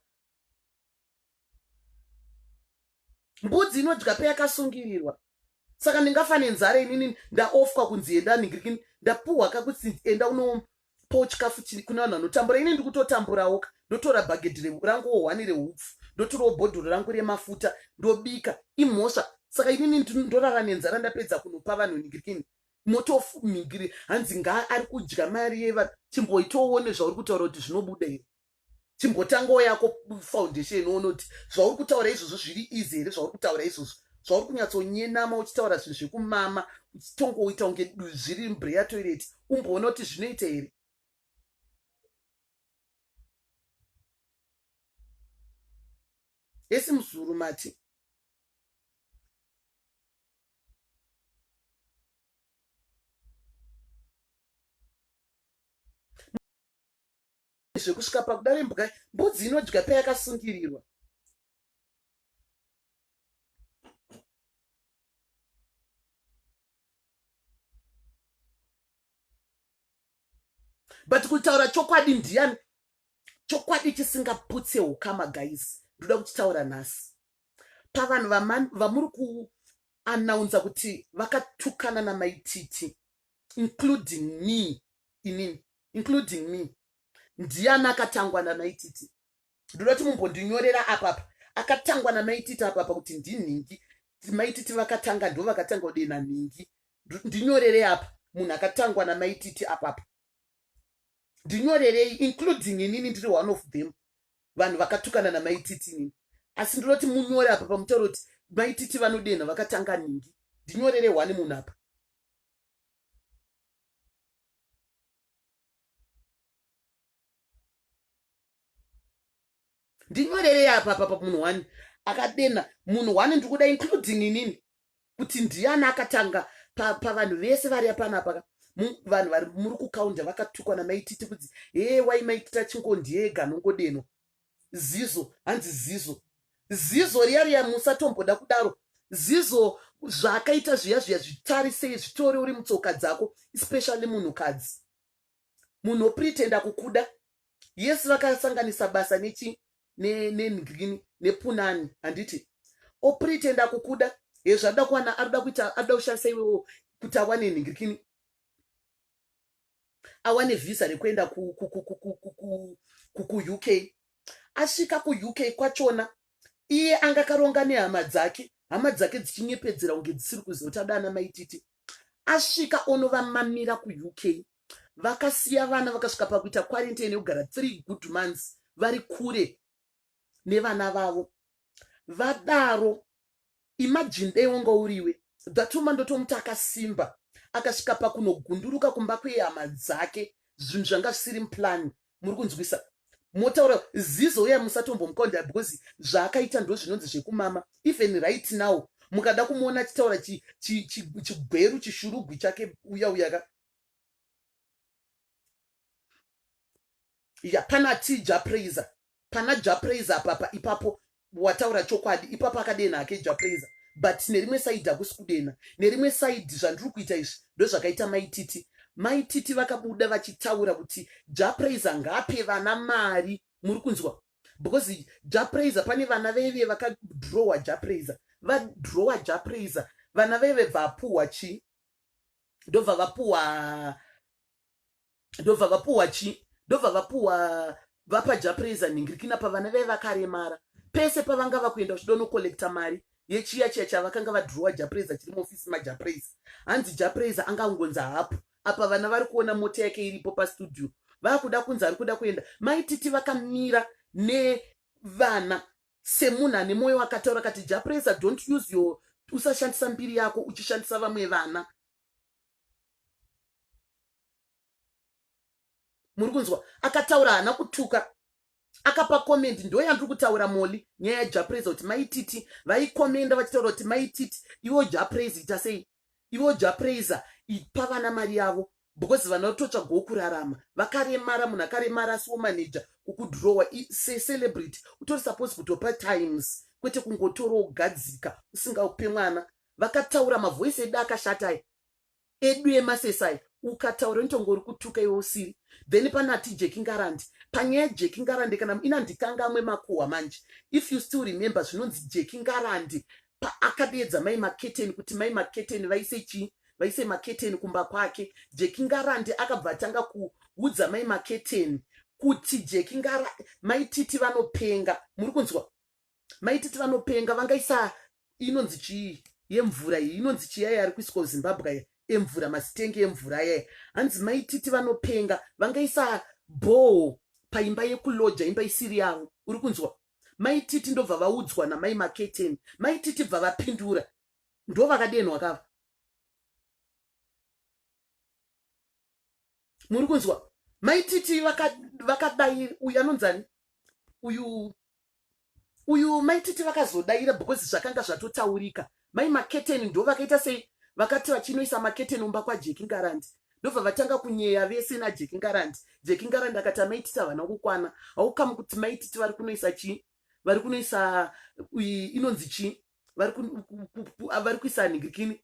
mbudzi inodya peyakasungirirwa saka ndingafa nenzara inini ndaofwa kunzi endani ndapuhwa kakuti enda uno po chikafu chiri kune vanhu vanotambura ini ndikutotamburawo ka ndotora bhagedhi rangu wohwani reupfu ndotorawo bhodhoro rangu remafuta ndobika imhosva saka inini ndorara nenzara ndapedza kunopa vanhu ningirikini motofumigiri hanzi ngaa ari kudya mari yevanhu chimboitowone zvauri kutaura kuti zvinobuda here chimbotangawo yako foundation onoti zvauri kutaura izvozvo zviri easy here zvauri kutaura izvozvo zvauri kunyatsonyenama uchitaura zvinhu zvekumama uchitongoita kunge zviri mbreya toilet umboona kuti zvinoita here esi muzuru mati zvekusvika pakuda vembwa mbudzi inodya payakasungirirwa but kutaura chokwadi ndiyani chokwadi chisingaputse ukama guys ndoda kuchitaura nhasi pavanhu vamuri kuanaunza kuti vakatukana namaititi including me inini including me ndiani akatangwa namaititi ndoda kuti mumbondinyorera apapa akatangwa namaititi apapa kuti ndinhingi maititi vakatanga ndo vakatanga kudena nhingi ndinyorerei apa munhu akatangwa namaititi apapa ndinyorerei including inini ndiri one of them vanhu vakatukana namaititi inini asi ndinoti munyore apa pamutauro kuti maititi vanodenha vakatanga nhingi ndinyorere one munhu apa ndinyorerei apa apa pamunhu one akadenha munhu one ndikuda including inini kuti ndiani akatanga pavanhu pa vese vari apanapa ka vanhu vari muri kukaunda vakatukwa namaititi kudzi hee wai maitita chingondiega nongodenwa zizo hanzi zizo zizo riya riya musatomboda kudaro zizo zvaakaita zviya zviya zvitarisei zvitore uri mutsoka dzako especially munhukadzi munhu opretenda kukuda yes vakasanganisa basa nechi nengreen nepunani handiti opretenda kukuda hezvaada kuwana arida kuita arida kushandisa iwewo kuti awane nhingirikini awane vhisa rekuenda kuuk asvika kuuk kwachona iye anga karonga nehama dzake hama dzake dzichinyepedzera kunge dzisiri kuziva kuti adana maititi asvika onovamamira kuuk vakasiya vana vakasvika pakuita quarantine yekugara three good months vari kure nevana vavo vadaro imagine dei wanga uriwe that woman ndotomuti akasimba akasvika pakunogunduruka kumba kwehama dzake zvinhu zvanga zvisiri muplani muri kunzwisa motaura zizo uya musatombomukonda because zvaakaita ndo zvinonzi zvekumama even right now mukada kumuona achitaura chigweru chishurugwi chake uya uyaka ya pana ti japraiser pana japraiser apapa ipapo wataura chokwadi ipapo akadenha hake japraiser but nerimwe saidi hakusi kudenha nerimwe saidi zvandiri kuita izvi ndozvakaita maititi maititi vakabuda vachitaura kuti japraiser ngaape vana mari muri kunzwa because japraiser pane vana veve vakadrowa japraiser vadrowa japraiser vana veve bvapuhwa chii ndobva vapuhwa ndobva vapuwa chii ndobva vapuwa vapa japreza nhingirikina pavana vee vakaremara pese pavanga vakuenda kuchidonokolecta mari yechiya chiya chavakanga vadhurowa japreza chiri muofisi majapreza hanzi japreza anga angonzi hapo apa vana vari kuona mota yake iripo pastudio vakuda kunzi ari kuda kuenda maititi vakamira nevana semunhu ane mwoyo akataura kati japreza don't use your usashandisa mbiri yako uchishandisa vamwe vana muri kunzwa akataura haana kutuka akapa comment ndo yandiri kutaura moli nyaya yajapraise kuti maititi vaikomenda vachitaura kuti maititi ivo japraise ita sei ivo japraise ipa vana mari yavo because vana vatotsva go kurarama vakaremara munhu akaremara asi womaneja kukudhurowa secelebrity utori suppose kutopa times kwete kungotoro ugadzika usingaupe mwana vakataura mavoice edu akashata ayi edu emasesa ayi ukataura inotonge uri kutuka iwe usiri then pane ati jeki ngarandi panyaya yejeki ngarandi kana ina ndikangamwe makuhwa manje if you still remember zvinonzi jeki ngarandi paakadeedza mai maketeni kuti mai maketeni vaise chii vaise maketeni kumba kwake jeki ngarandi akabva atanga kuudza mai maketeni kuti jeki ngara mai titi vanopenga muri kunzwa maititi vanopenga vangaisa inonzi chii yemvura iyi inonzi chiyaya ari kuiswa kuzimbabwe aya emvura masitengi emvura ayaya hanzi maititi vanopenga vangaisa bhoo paimba yekuloja imba isiri yavo uri kunzwa maititi ndobva vaudzwa namai maketeni maititi bva vapindura ndo vakadenwa kava muri kunzwa maititi vakadai uyu anonzani uyu uyu maititi vakazodaira because zvakanga zvatotaurika mai maketeni ndo vakaita sei vakati vachinoisa maketeni umba kwajeki ngarandi ndobva vatanga kunyeya vese najeki ngarandi jeki ngarandi akati amaititi havana kukwana haukamu kuti maititi vari kunoisa chii vari kunoisa inonzi chii vari kuisa nigikini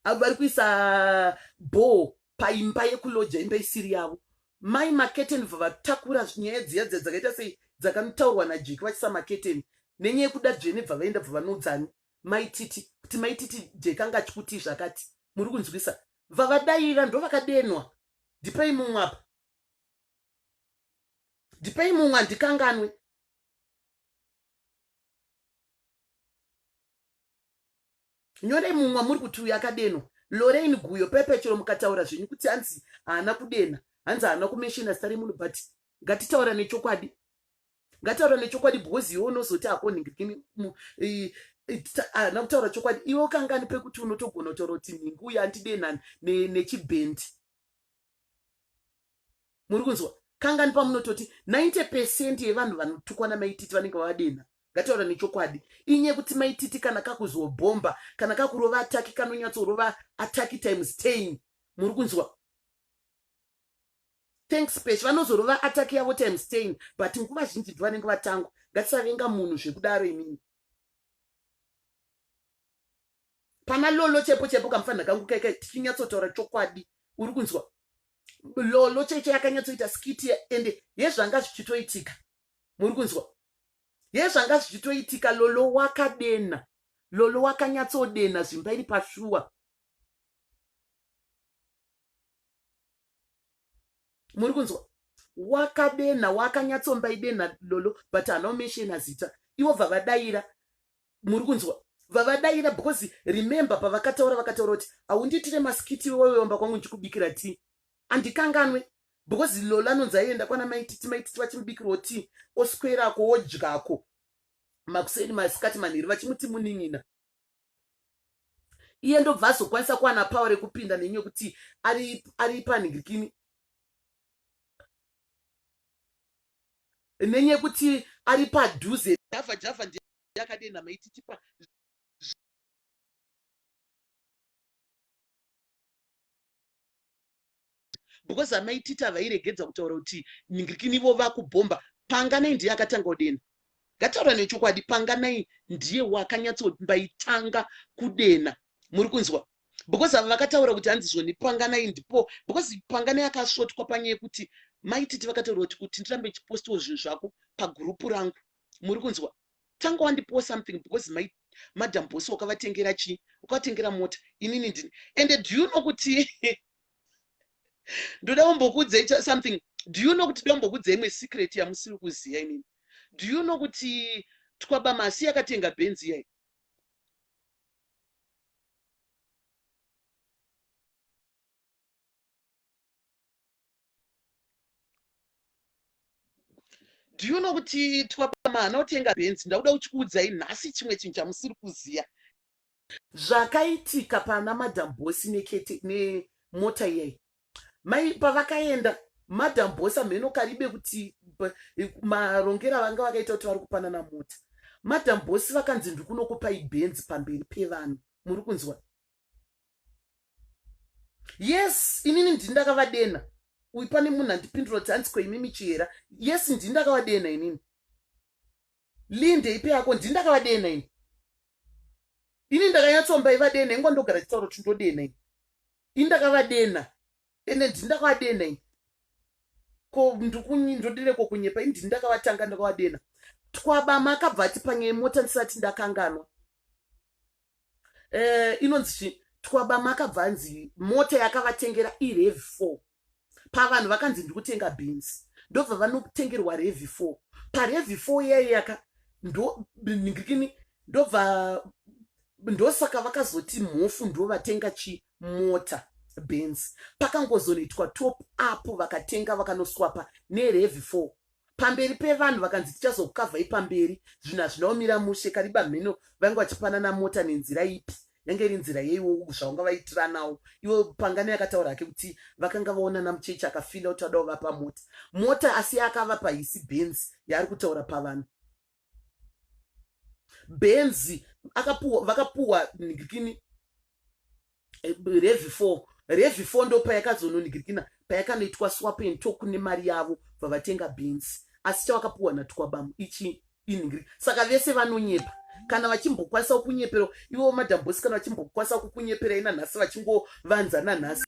avo vari kuisa bho paimba yekuloja imba isiri yavo mai maketeni bva vatakura nyaya dziya dziya dzakaita sei dzakanotaurwa najeki vachisa maketeni nenyaya yekuda dzvene bva vaenda bva vanoudzani maititi kuti maititi jeki anga achikutii zvakati muri kunzwisa bva vadaira ndo vakadenwa ndipei mumwe apa ndipei mumwe andikanganwe nyore mumwa muri kuti uyu akadenwa lorein guyo pepechero mukataura zvenyu kuti hanzi haana kudenha hanzi haana kumeshina zita remunhu but ngatitaura nechokwadi ngataura nechokwadi because iwe unozoti hakonhingirikini haana kutaura chokwadi iwe ukangani pekuti unotogona kutaura kuti nhingi uyo andidenani nechibhendi muri kunzwa kangani pamunototi 90 pecent yevanhu vanotukwa namaititi vanenge vavadenha ngataura nechokwadi inye kuti maititi kana kakuzobhomba kana kakurova ataki kanonyatsorova ataki times 10 muri kunzwa thanks pesh vanozorova ataki yavo times 10 but nguva zhinji bvi vanenge vatangwa ngatisavenga munhu zvekudaro imini pana lolo chepo chepo kamufanira kangu kaika tichinyatsotaura chokwadi uri kunzwa lolo cheche yakanyatsoita skiti ende yezvanga zvichitoitika muri kunzwa yezvanga zvichitoitika lolo wakadena lolo wakanyatsodena zvimba iri pashuwa muri kunzwa wakadenha wakanyatsomba idenha lolo but hanaomeshena zita ivo vavadaira muri kunzwa vavadaira because remember pavakataura vakataura kuti haundiitire masikiti weweomba kwangu ndichikubikira ti andikanganwe because lola anonzi aienda kwana maititi maititi vachimubikirwo ti oswerako wodyako makuseni masikati manhiri vachimuti munin'ina iye ndobva azokwanisa kuwana power rekupinda nenyu yekuti ari ari panhingirikini nenyu yekuti ari padhuze java java ndiye akadenha maititipa because amai tita vairegedza kutaura kuti ningirikini ivo vakubhomba panganai ndiye akatanga kudena ngataura nechokwadi panganai ndiye wakanyatsobaitanga kudena muri kunzwa because ava vakataura kuti hanzi zvoni panganai ndipo because panganai akasvotwa panyaya yekuti mai titi vakataura kuti kuti ndirambe chipostiwo zvinhu zvako pagurupu rangu muri kunzwa tanga wandipowo something because mai madam bosi wakavatengera chii ukavatengera mota inini ndini ende do you know kuti ndoda kumbokuudzai something do you know kuti ndoda kumbokuudzai imwe secret yamusiri kuziva inini do you know kuti twabamasi yakatenga benzi iyai do you know kuti twabamana otenga benzi ndakuda kuchikuudzai nhasi chimwe chinhu chamusiri kuziva Zvakaitika pana madam boss nekete nemota iyai mai pavakaenda madam boss amheno karibe kuti marongera vanga vakaita kuti vari kupanana mota madam boss vakanzi ndiri kunokupai benzi pamberi pevanhu muri kunzwa yes inini ndini ndakavadena uyu pane munhu andipindura kuti hanzi koimimi chihera yes ndini ndakavadena inini linde ipe yako ndini ndakavadena ini ini ndakanyatsomba ivadena ingwa ndogara chitauro kuti ndodena ini ini ndakavadena ende ndini ndakavadena ini ko ndodireko kunyepa ini ndini ndakavatanga ndakavadena twabama akabva ati panyaya mota ndisati ndakanganwa um inonzi twabama akabva anzi mota yakavatengera irevi four pavanhu vakanzi ndikutenga beans ndobva vanotengerwa revi four parevi four yaiyaka ndoningikini ndobva ndosaka vakazoti mhofu ndovatenga chimota benz pakangozonoitwa top up vakatenga vakanoswapa nerevi four pamberi pevanhu vakanzi tichazokukavhai pamberi zvinhu hazvina kumira mushe kariba mheno vange vachipanana mota nenzira ipi yange iri nzira yeiwo zvaunga vaitiranawo iwo pangani akataura hake kuti vakanga vaonana muchechi akafila kuti adao vapa mota mota asi akavapa hisi benzi yaari kutaura pavanhu benzi akapuwa vakapuwa nigirikini eh, revi four revi four ndo payakazononigirikina payakanoitwa swapen toku nemari yavo vavatenga benzi asi chawakapuwa natwabamu ichi inhingiri saka vese vanonyepa kana vachimbokwanisa kukunyepera ivo madambosi kana vachimbokwanisa kukunyeperai nanhasi vachingovanza nanhasi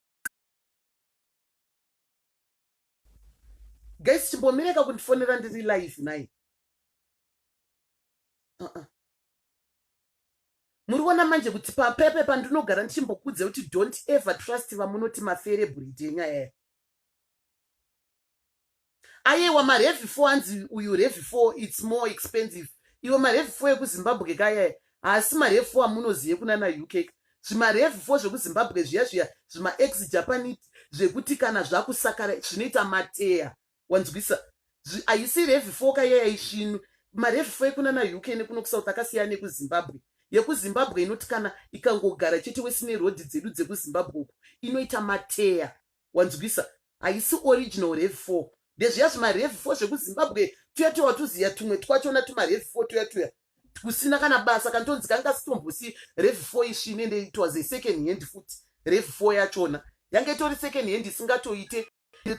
guys chimbomireka kundifonera ndiri live nai uh -uh. muri kuona manje kuti papepe pandinogara ndichimbokudze kuti don't ever trust vamunoti mafere bhuridi enyaya yayo ayewa marevi four anzi uyu revi four its more expensive iwe marevi four ekuzimbabwe kayaya Asi marefu amunoziye kunana UK zvimarefu fo zvekuzimbabwe zviya zviya zvimaex japanese zvekuti kana zvakusakara zvinoita mateya wanzwisa haisi refu fo kayayaisvinu marefu fo ekunana UK nekuno kusouth akasiyana nekuzimbabwe yekuzimbabwe inoti kana ikangogara chete wesine rodhi dzedu dzekuzimbabwe uku inoita mateya wanzwisa haisi original rev 4 ndezviya zvimarev 4 zvekuzimbabwe tuya tuya watuziya tumwe twachona tumarev 4 tuya tuya kusina kana basa kantonzi kanga sitombosi rev 4 isvine nde it was a second hand futi rev 4 yachona yanga itori second hand isingatoite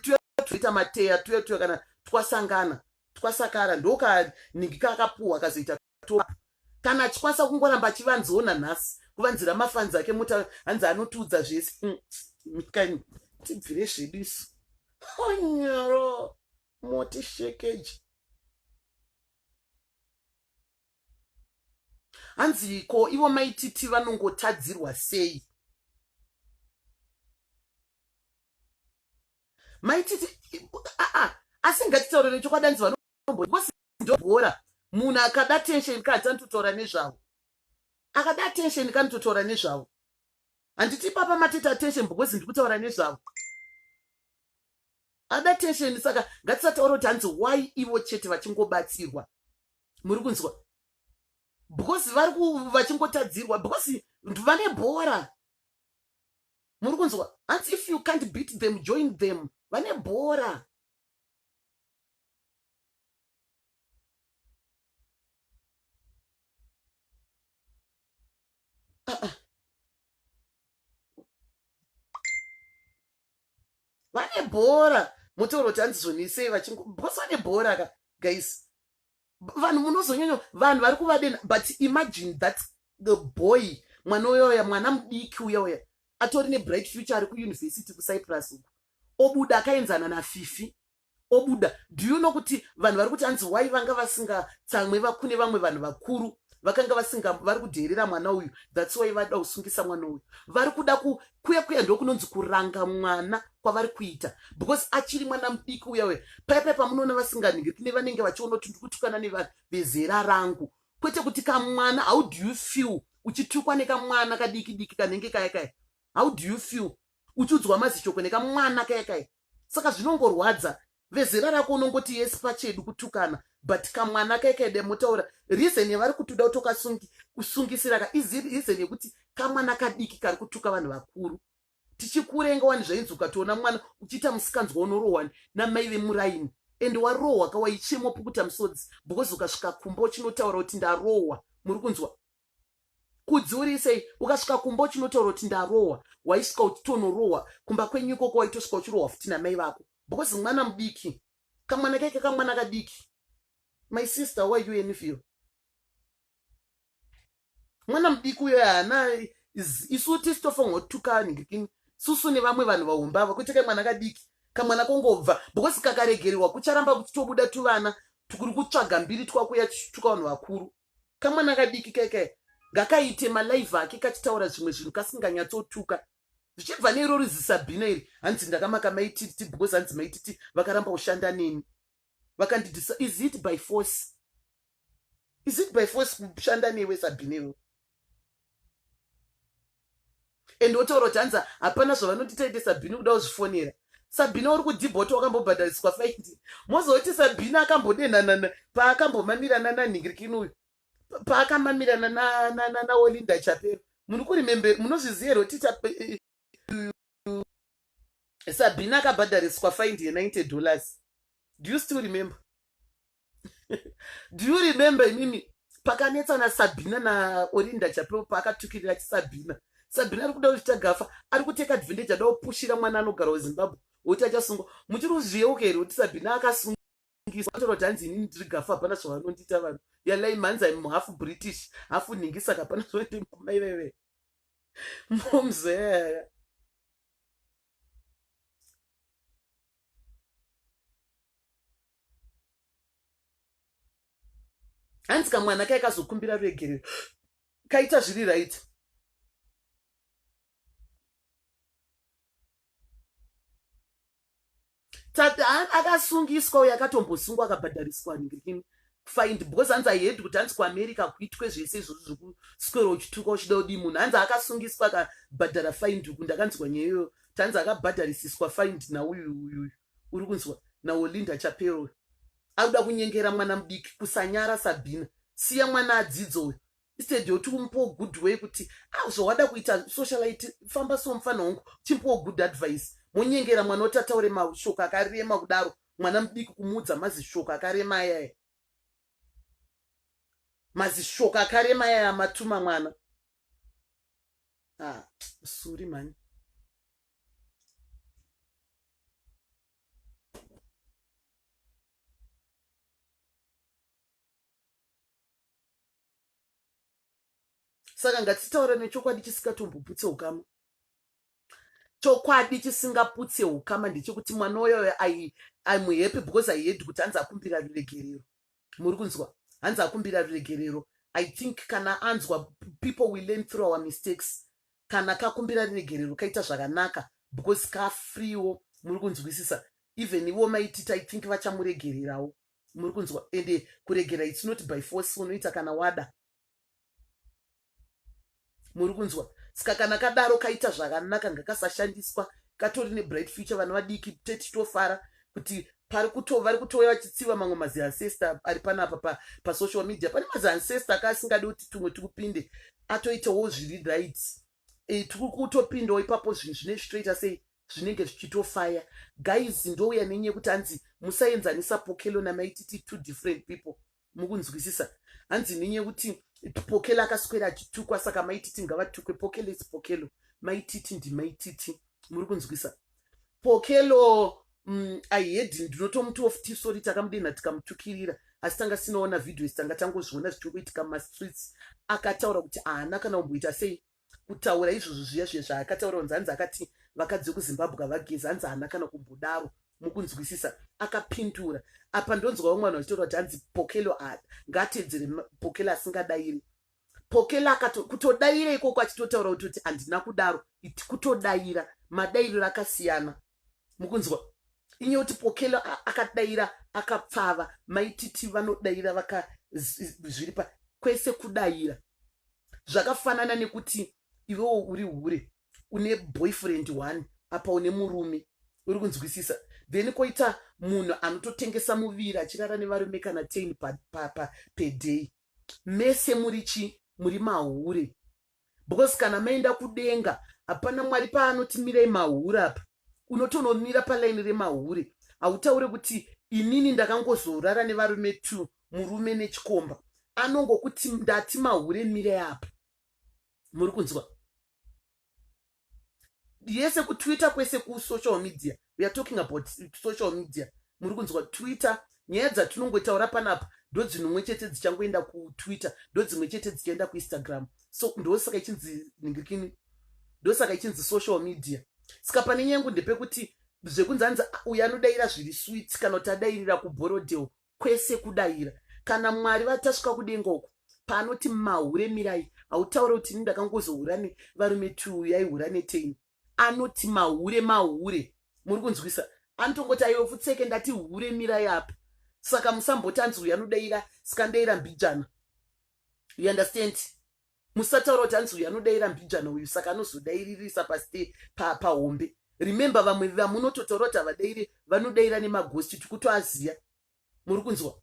tuya tuita mateya tuya tuya kana twasangana twasakara ndokanhingi kaakapuhwa akazoita to kana achikwasa kungoramba achivanziona nhasi kuvanzira mafanzi ake muta hanzi anotiudza zvese mm, mikani tibvire zvedu isu onyoro moti shekeji hanzi ko ivo maititi vanongotadzirwa sei maititi aa asi ngatitaurire chokwadi hanzi because ndobhora munhu akada attention kadzi anototaura nezvavo akada attention kanototaura nezvavo handiti papa matita attention because ndikutaura nezvavo ada attention saka ngatisataura kuti hanzi why ivo chete vachingobatsirwa muri kunzwa because vari vachingotadzirwa because vane bhora muri kunzwa hanzi if you can't beat them join them vane bhora vane bhora mutauro kuti handizonesei vachingobhosi vane bhora ka guys vanhu munozonyanya vanhu vari kuvadena but imagine that the boy mwana uya uya mwana mudiki uya uya atori nebright future ari kuyunivhesiti kucyprus uku obuda akaenzana nafifi obuda do you know kuti vanhu vari kuti hanzi why vanga vasingatsamwe vakune vamwe vanhu vakuru vakanga vasinga vari kudheerera mwana uyu that's why vada kusungisa mwana uyu vari kuda kuya kuya ndokunonzi kuranga mwana kwavari kuita because achiri mwana mudiki uya uya paya paya pamunoona vasinganingiri kune vanenge vachiona kuti ndikutukana nevanhu vezera rangu kwete kuti kamwana how do you feel uchitukwa nekamwana kadiki diki kanenge kaya kaya how do you feel uchiudzwa mazishoko nekamwana kaya kaya saka zvinongorwadza vezera rako unongoti yesi pachedu kutukana but kamwana kaikaide motaura reason yavari kutuda kutokasungi kusungisira ka izi reason yekuti kamwana kadiki kari kutuka vanhu vakuru tichikurenga wani zvainzi ukatoona mwana uchiita musikanzwa unorohwani namai vemuraini and warohwa ka waichemwa pukuta musodzi because ukasvika kumba uchinotaura kuti ndarohwa muri kunzwa kudziuriri sei ukasvika kumba uchinotaura kuti ndarohwa waisvika uchitonorohwa kumba kwenyu ikoko waitosvika uchirohwa futi namai vako because mwana mudiki kamwana keke kamwana kadiki my sister why you envil mwana mudiki uyo haana isu tisitofanirwa kutukana ngekini susu nevamwe vanhu vahumbava kwete kai mwana kadiki kamwana kongobva because kakaregererwa kucharamba kuchitobuda tuvana tukuri kutsvaga mbiri twakuya tichituka vanhu vakuru kamwana kadiki kaikai ngakaite malive ake kachitaura zvimwe zvinhu kasinganyatsotuka zvichibva neiro rizisabhina iri hanzi ndakamaka maititi because hanzi maititi vakaramba kushanda neni vakandidisa is it by force is it by force kushanda newe sabhina iro and wotaura kuti hanzi hapana zvavanoti taite sabhini kuda kuzvifonera sabhina uri kudhibhoti wakambobhadhariswa faindi mozoti sabhina akambodenhanana paakambomamirana nanhingirikini uyu paakamamirana naolinda chapero muri kurimembe munozviziva here kuti mm, sabina akabhadhariswa find ye90 dollars do you still remember do you remember imimi pakanetsa nasabina naorinda chapeo paakatukirira chisabina sabina ari kuda kuzvita gafa ari kuteka advantage ada kupushira mwana anogara wezimbabwe woti achasungwa muchiri kuzviyeuka here kuti sabina akasungwa nhingisa wacho roti hanzi inini ndiri gafu hapana zvavanondiita vanhu yalai mhanzi im half british hafu nhingisa ka hapana zvavandimboma iveve momzea hanzi kamwana kaikazokumbira ruregerero kaita zviri right tata akasungiswa uyo akatombosungwa akabhadhariswa ngirini find because hanzi ahead kuti hanzi kuamerica kuitwe zvese izvozvo zvekuswera uchituka uchida udii munhu hanzi akasungiswa akabhadhara find uku ndakanzwa nyaya iyoyo tanzi akabhadharisiswa find nauyu uyuyu uri kunzwa naolinda chapero uyu akuda kunyengera mwana mudiki kusanyara sabhina siya mwana adzidzoyo instead yoti umupewo good way kuti ah zvawada kuita socialite famba so mufana hongu chimpewo good advice monyengera mwana woti ataure mashoko akarema kudaro mwana mudiki kumuudza mazishoko akarema ayaya mazishoko akarema ayaya matuma mwana ah suri mani saka ngatitaura nechokwadi chisingatomboputse ukama chokwadi chisingaputse ukama ndechekuti mwana uyoyo imuhappy because ihedi kuti hanzi akumbira ruregerero muri kunzwa hanzi akumbira ruregerero i think kana anzwa people we learn through our mistakes kana kakumbira ruregerero kaita zvakanaka because kafreewo muri kunzwisisa even ivo maitita i think vachamuregererawo muri kunzwa ende kuregera its not by force unoita kana wada muri kunzwa saka kana kadaro kaita zvakanaka ngakasashandiswa katori nebright future vana vadiki tetitofara kuti pari kuto vari kutouya vachitsiva mamwe maziancestor ari panapa pa, pasocial media pane maziancestor akaasingadi kuti tumwe tikupinde atoitawo zviri rights e, tiri kutopindawo ipapo zvinhu zvine zvitoita sei zvinenge zvichitofaya guys ndouya nenyu yekuti hanzi musaenzanisa pokelo namaititi two different people mukunzwisisa hanzi nenyu yekuti pokelo akaswera achitukwa saka maititi ngavatukwe pokelo is pokelo maititi ndimaititi muri kunzwisisa Pokelo mm, I had ndinotomuti of tea sorry takamudenha tikamutukirira asi tanga sinoona video isi tanga tangozviona zvichingoitika mumastreets akataura kuti haana kana kumboita sei kutaura izvozvo zviya zviya zvaakataura kunzi hanzi akati vakadzi vekuzimbabwe havagezi hanzi haana kana kumbodaro mukunzwisisa akapindura apa ndonzwawo mwana vachitaura kuti hanzi pokelo a ngaatedzere pokelo asingadairi pokela akato kutodaira ikoko achitotaura kuti kuti handina kudaro iti kutodaira madairiro akasiyana mukunzwa inye kuti pokela akadaira akapfava maititi vanodaira vaka zviripa kwese kudaira zvakafanana nekuti iwewo uri hure une boyfriend one apa une murume uri kunzwisisa then koita munhu anototengesa muviri achirara nevarume kana ten paday pa, pa, pa, mese muri chi muri mahure because kana maenda kudenga hapana mwari paanoti mirai mahure apa unotonomira palaini remahure hautaure kuti inini ndakangozorara nevarume two murume nechikomba anongokuti ndati mahure mirai apa muri kunzwa yese kutwitter kwese kusocial media weare talking about social media muri kunzwa twitter nyaya dzatinongotaura panapa ndo dzinomwe chete dzichangoenda kutwitter ndo dzimwe chete dzichaenda kuinstagram so ndosaka ichinzi ningirikini ndosaka ichinzi social media saka pane nyangu ndepekuti zvekunzi anzi uyu anodaira zviri swit kana kuti adairira kuborodel kwese kudaira kana mwari vatasvika kudenga uku paanoti mahure mirai hautaure kuti ini ndakangozohura nevarume two yaihura neteini anoti mahure mahure muri kunzwisa anotongoti aiwe futseke ndati hure mirai apa saka musamboti anzi uyu anodaira sikandaira mbijana you understand musataura kuti hanzi uyu anodaira mbijana uyu saka anozodairirisa pasi pahombe pa remember vamwe vamunototaura kuti havadairi vanodaira nemagosti tikutoaziya muri kunzwa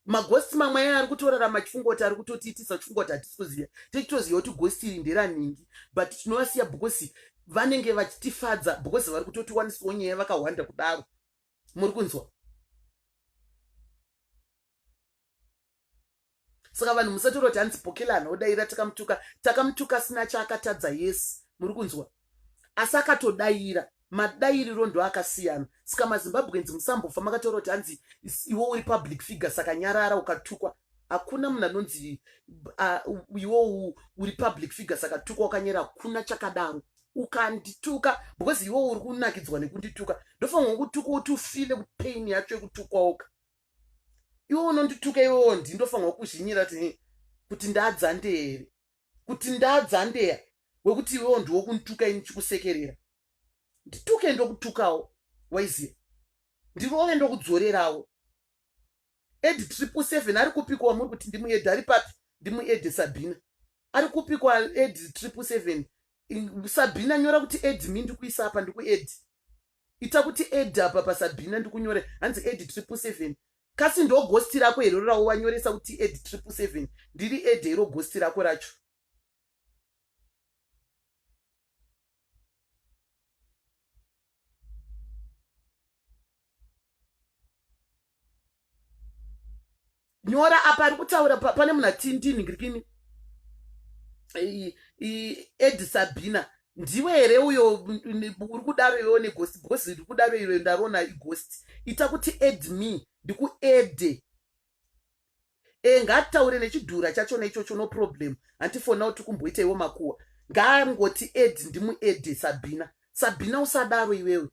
magosti mamwe aya ari kutorarama chifungo kuti ari kutotiitisa chifungo kuti hatisi kuziva tichitoziva kuti gosti iri nderaningi but tinovasiya because vanenge vachitifadza because vari kutotiwanisawo nyaya vakahwanda kudaro muri kunzwa saka vanhu musatoroti hanzi bhokela anodaira takamutuka takamutuka asina chaakatadza yesi muri kunzwa asi akatodaira madairiro ndo akasiyana saka mazimbabwenzi musambofa makataura kuti hanzi iwo uri public figure saka nyarara ukatukwa hakuna munhu anonzi iwo uri public figure saka tukwa ukanyera hakuna chakadaro ukandituka because iwo uri kunakidzwa nekundituka ndofanirwa kutukwa kuti ufile kupain yacho yekutukwaoka iwe unondituka iwewo ndi ndofanirwa kuzhinyira kuti ndadzandee here kuti ndadzandeya wekuti iwewo ndiwo kundituka ini chikusekerera ndituke ndokutukawo waiziya ndirove ndokudzorerawo ed triple seven ari kupiko wamuri kuti ndimued ari papi ndimued sabina ari kupiko ed triple seven sabina nyora kuti ed mi ndikuisa apa ndikued ita kuti ed apa pasabhina ndikunyore hanzi ed triple seven kasi ndo gosti rako hero rawo wanyoresa kuti ed triple seven ndiri ed hero gosti rako racho nyora apa ari kutaura pane munhu atindini ngirikini edi sabina ndiwe here uyo uri kudaro iwewo negosti bcause riri kudaro iro ndarona igosti ita kuti ed me ndikuede e eh, ngaataure nechidhura chachona ichocho no problem hanti fona kuti kumboita iwo makuwa ngaangoti ed ndimuede sabina sabina usadaro iwewe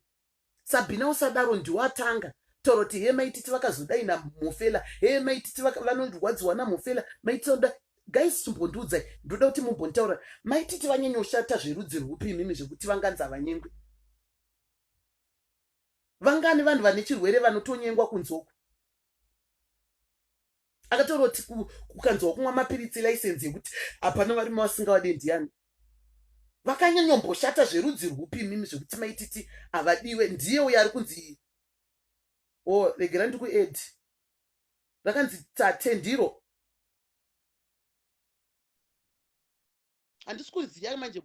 sabhina usadaro ndiwo atanga taura kuti hee maititi vakazodai namufela hee maititi vanondirwadziwa namufela maititi vanoda guys chimbondiudzai ndoda kuti mumbontaura maititi vanyanyoshata zverudzi rwupi imimi zvekuti vanganzi havanyengwi vangani vanhu vane chirwere vanotonyengwa kunzoku akataura kuti kukanzwa kumwa mapiritsi laisenzi yekuti hapana varume vasingavade ndiyani vakanyanyomboshata zverudzi rwupi imimi zvekuti maititi havadiwe ndiye uyo ari kunzi o oh, regera ndikued rakanzi tate ndiro handisi kuziva manje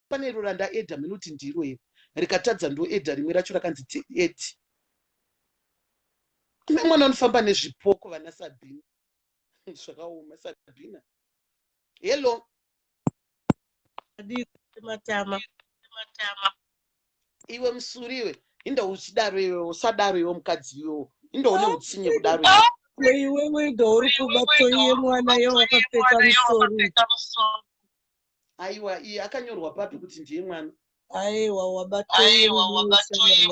Pane iro randaedha minoti ndiro iro rikatadza ndoedha rimwe racho rakanzi tiedhi kune mwana unofamba nezvipoko vana sabhina zvakaoma sabhina hello matama matama iwe musuri iwe inda uchidaro iwe usadaro iwe mukadzi iwewo inda une utsinye kudaro iwewe inda uri kubatsoiye mwana iye wakapfeka musori Aiwa iye akanyorwa papi kuti ndiye mwana? Aiwa wabatoi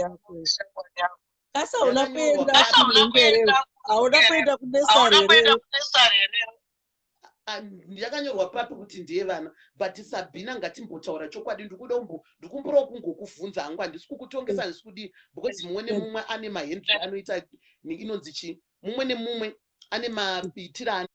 yako. Kasi hauna kuenda kumhembere? Hauna kuenda kunesari here? Ah, yakanyorwa papi kuti ndiye vana but sabhina ngatimbotaura chokwadi ndikuda umbo ndikumbirawo kungokuvhunza hangu handisi kukutongesa handisi kudii because mumwe nemumwe ane mahendri anoita inonzi chii mumwe nemumwe ane maitiro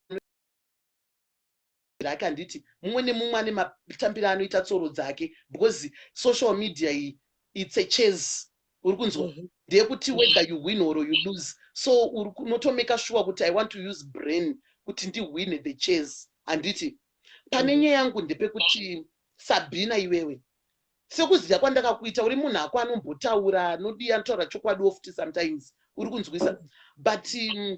Muzvare akanditi mumwe nemumwe ane matambiro anoita tsoro dzake because social media iyi it's a chase uri kunzwa mm -hmm. ndeyekuti whether you win or you lose so uri kunotomeka shuwa kuti i want to use brain kuti ndihwine the chase handiti pane mhm. nyaya yangu ndepekuti sabhina iwewe sekuziva kwandakakuita uri munhu ako anombotaura anodii anotaura chokwadi ofti sometimes uri kunzwisa but um,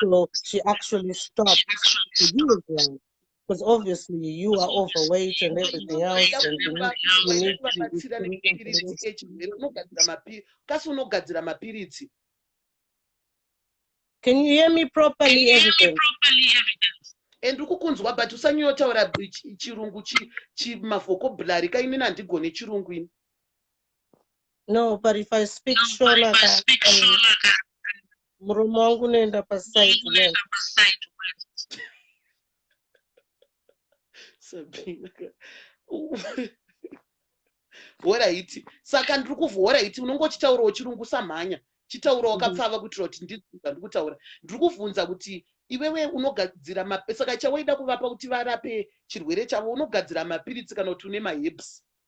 So she actually stopped to use them because obviously you are overweight and everything else and you need, you need kubatsira nekupiritsi echirwere unogadzira mapiritsi kasi unogadzira mapiritsi can you hear me properly evidence and ukukunzwa but usanyotaura chirungu chimavhokobhulari ka inini handigone chirungu ini no but if i speak no, shona, if I speak shona Murume wangu unoenda paside unoenda left. paside unoenda- Sabina ka- horaiti saka ndiri kuvhu horaiti unenge uchitaurawo chirungu usamhanya chitaura wakapfava kuitira kuti ndinzwe zvandiri kutaura ndiri kuvhunza kuti iwewe unogadzira mapi- saka chawaida kuvapa kuti varape chirwere chavo unogadzira mapiritsi kana kuti une maherbs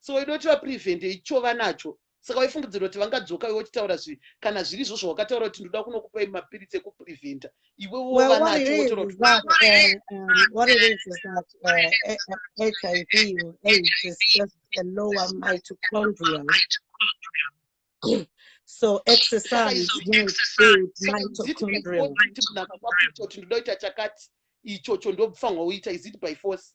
so waida kuti vaprevente ichova nacho saka waifungidzira kuti vangadzoka iwe uchitaura zvi kana zviri izvo zvawakataura kuti ndoda kunokupai mapiritsi ekupreventa iwe wova nacho so exercise mitochondrialndoda kuita chakati ichocho ndofanirwa uita is it by force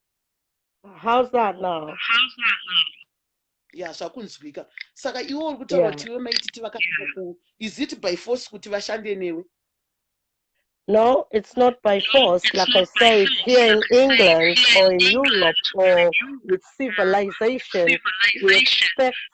how's that now how's that now ya zvakunzwika saka iwe uri kutaura kuti iwe maititi vakaaa ku is it by force kuti vashande newe No, it's not by force. Like I said, here in England or in Europe or with civilization, we expect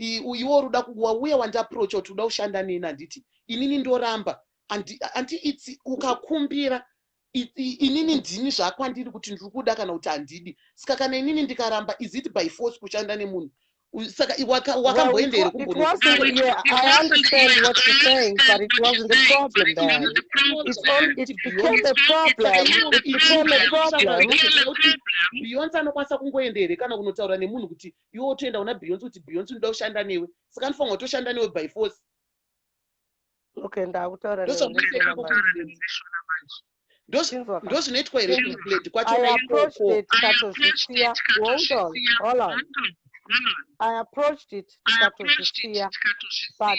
Ii uyuwo uruda ku wauya wandi approacha kuti uda kushanda neni handiti inini ndoramba and anti its ukakumbira inini ndini zvakwandiri kuti ndiri kuda kana kuti handidi ska kana inini ndikaramba is it by force kushanda nemunhu saka wakamboenda here kumbonobeyonce anokwanisa kungoenda here kana kunotaura nemunhu kuti iwe wotoenda kuna beyonce kuti beyonce unoda kushanda newe saka anofanira kutoshanda newe by force okay ndakutaura ndozvinoitwa here kublade kwacho naikokotozvisiya i approached it tikatozvisiya but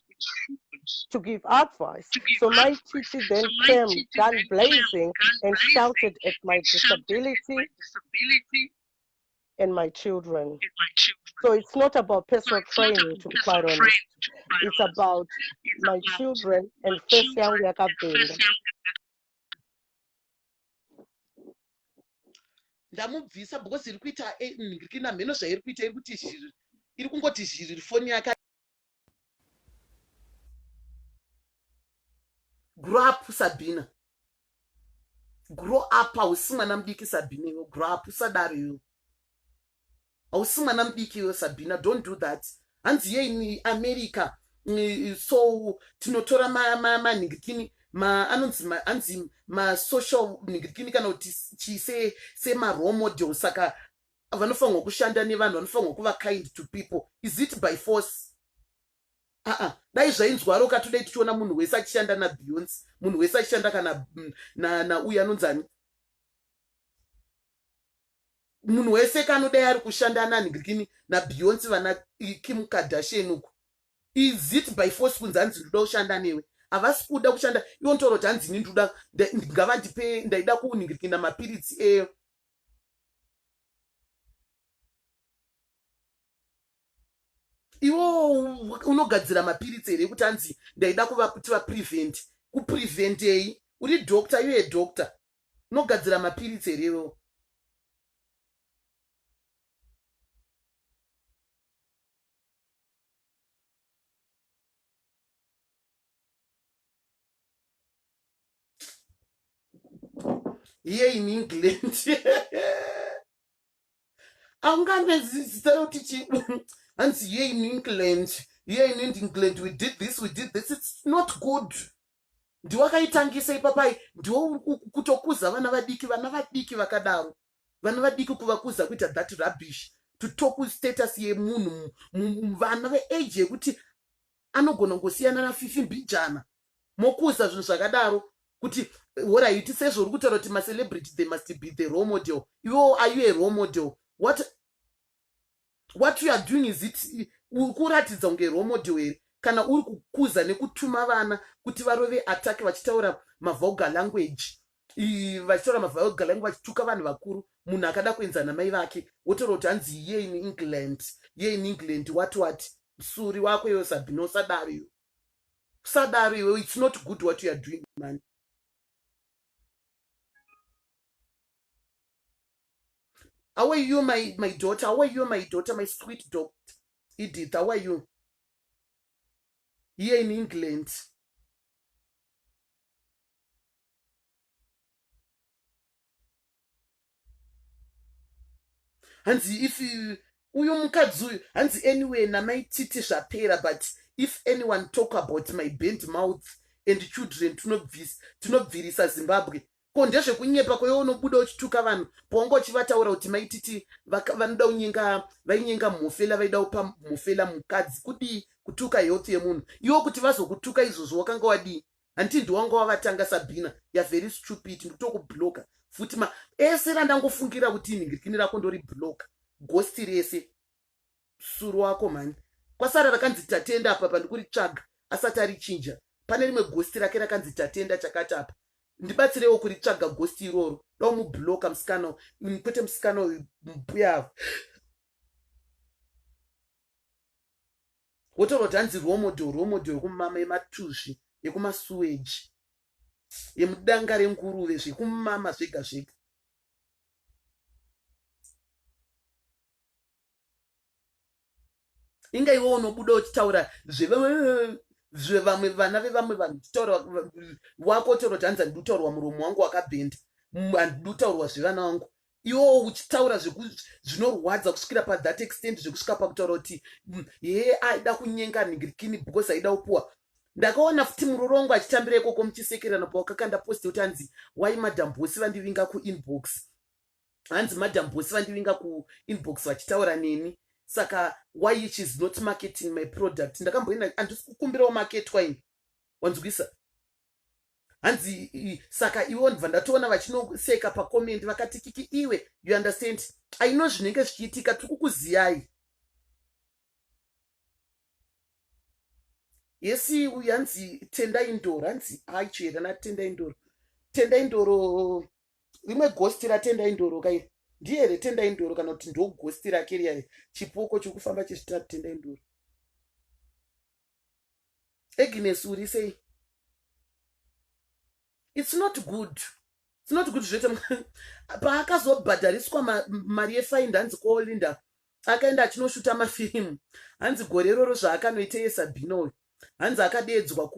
to give advice. So my teacher then came gun blazing and shouted at my disability and my children. So it's not about personal training, to be quite honest. It's about my children and first young yakabhinda. ndamubvisa because iri kuita eh, ndikina mheno zvairi kuita iri kuti zhiri iri kungoti zhiriri foni yake grow up sabhina grow up hausi mwana mudiki sabhina iwe grow up usadaro iwe hausi mwana mudiki iwe sabhina don't do that hanzi yeini america mm, so tinotora manhingikini anonzi anzi masocial nhingikini kana kuti chise semarole model saka vanofanirwa kushanda nevanhu vanofanirwa kuva kind to people is it by force aa dai zvainzwaro ka todai tichiona munhu wese achishanda nabeyonce munhu wese achishanda kana mm, nauyo anonzani munhu wese kanodai ari kushanda nanhikini nabeyonce vana kim kardashian uku is it by force kunzi hanzi ndoda kushanda newe havasi kuda kushanda iwo ntouro kuti hanzi ini ndoda ngavandipe ndaida kunhingirikina mapiritsi eyo iwo unogadzira mapiritsi here ekuti anzi ndaida kuva kuti vaprevent kupreventei uri doctor iwe doctor unogadzira mapiritsi here iwewo here in england aungambe zita yoti chi hanzi here in england here in england we did this we did this it's not good ndiwakaitangisa ipapai ndiwo kutokuza vana vadiki vana vadiki vakadaro vana vadiki kuvakuza kuita that rubbish to talk status yemunhu vana veage yekuti anogona kungosiyana nafifi mbijana mokuza zvinhu zvakadaro kuti horaiti sezvo uri kutaura kuti macelebrity they must be the role model iwewo are you a role model what what you are doing is it uri kuratidza kunge role model here kana uri kukuza nekutuma vana kuti varove attack vachitaura mavoga language vachitaura mavulgar langu vachituka vanhu vakuru munhu akada kuenza namai vake wotaura kuti hanzi ye in england ye in england wati wati msuri wako iwe sabhino usadaro iwe usadaro iwe its not good what youare doing mani how are you my, my daughter how are you my daughter my sweet doctor edith how are you here in england hanzi if uyo mukadzi uyu hanzi anyway namai titi zvapera but if anyone talk about my band mouth and children tinobvirisa zimbabwe ko ndezvekunyepa kwewe unobuda uchituka vanhu paunga uchivataura kuti maititi vanoda unyenga vainyenga mhofela vaida upa mhofela mukadzi kudii kutuka health yemunhu iwo kuti vazokutuka izvozvo wakanga wadii hanti ndiwanga wavatanga sabhina ya very stupid ndikutokubloka futi ma ese randangofungira kuti inhingirikini rako ndori bloka gosti rese suru wako mhani kwasara rakanzi tatenda apa pandikuritsvaga asati arichinja pane rimwe gosti rake rakanzi tatenda chakati apa ndibatsirewo kuritsvaga gosti iroro dao mubloka musikana kwete musikana uyu mbuya avo wotoroti hanzi romodo romodo yekumama yematuzvi yekumasuweji yemudanga renguruve zvekumama zvega zvega inga iwe unobuda uchitaura zvevamwe vana vevamwe vanhu uchitaura wako utaura kuti hanzi andikutaurwa muromo wangu wakabhenda andikutaurwa zvevana wangu iwewo uchitaura zvinorwadza kusvikira pathat extent zvekusvika pakutaura kuti mm, hee aida kunyenga ningirikini because aida kupuwa ndakaona futi muroro wangu achitambira ikoko muchisekerana pawakakanda post kuti anzi why madam bosi vandivinga kuinbox hanzi madam bosi vandivinga kuinbox vachitaura neni saka why she is not marketing my product ndakamboenda handisi kukumbirawo maketwa ini wanzwisa hanzi saka ivo ndibva ndatoona vachinoseka pacomendi vakati kiki iwe you understand aino zvinenge zvichiitika tiri kukuziyai yesi uyu hanzi tenda indoro hanzi aicho here natenda indoro tenda indoro rimwe ghosti ratendai ndoro ka iri ndiye here tendai ndoro kana kuti ndo ghosti rake riya iri chipoko chiri kufamba chizvita tendai ndoro agnes uri sei its not good its not good zvete paakazobhadhariswa mari yefaindi hanzi kolinda akaenda achinoshuta mafirimu hanzi gore iroro zvaakanoita yesabhinoyo hanzi akadeedzwa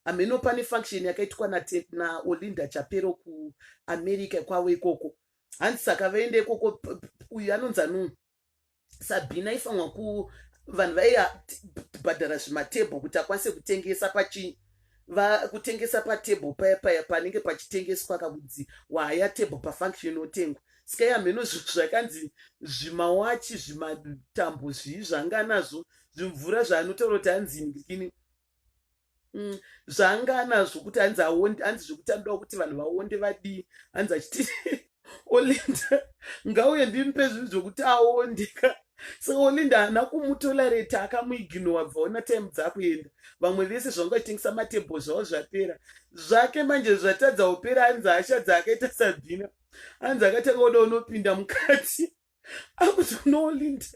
hameno pane function yakaitwa naolinda chapero kuamerica kwavo ikoko hanzi saka vaende ikoko uyu anonzi anuu sabhina ifanwa ku vanhu vaibhadhara zvimatebho kuti akwanise kutengesa pachii vakutengesa patable paya paya panenge pachitengeswa kakudzi waya table pafunction inotengwa sika yamheno zvakanzi zvimawachi zvimatambo zvii zvanga nazvo zvimvura zvaanotaura kuti hanzi ndikini mm, zvaanga anazvo kuti hanzi aonde hanzi zvekuti anodawo kuti vanhu vaonde vadii hanzi achiti olinda ngauye ndimpe zvinhu zvokuti aondeka so olinda haana kumutolereta akamuiginowa bvaona time dzakuenda vamwe vese zvanga vachitengesa matebho zvavo zvapera zvake manje zvatadza upera hanzi hasha dzaakaita sabhina hanzi akatanga kuda unopinda mukati akuti uno olinda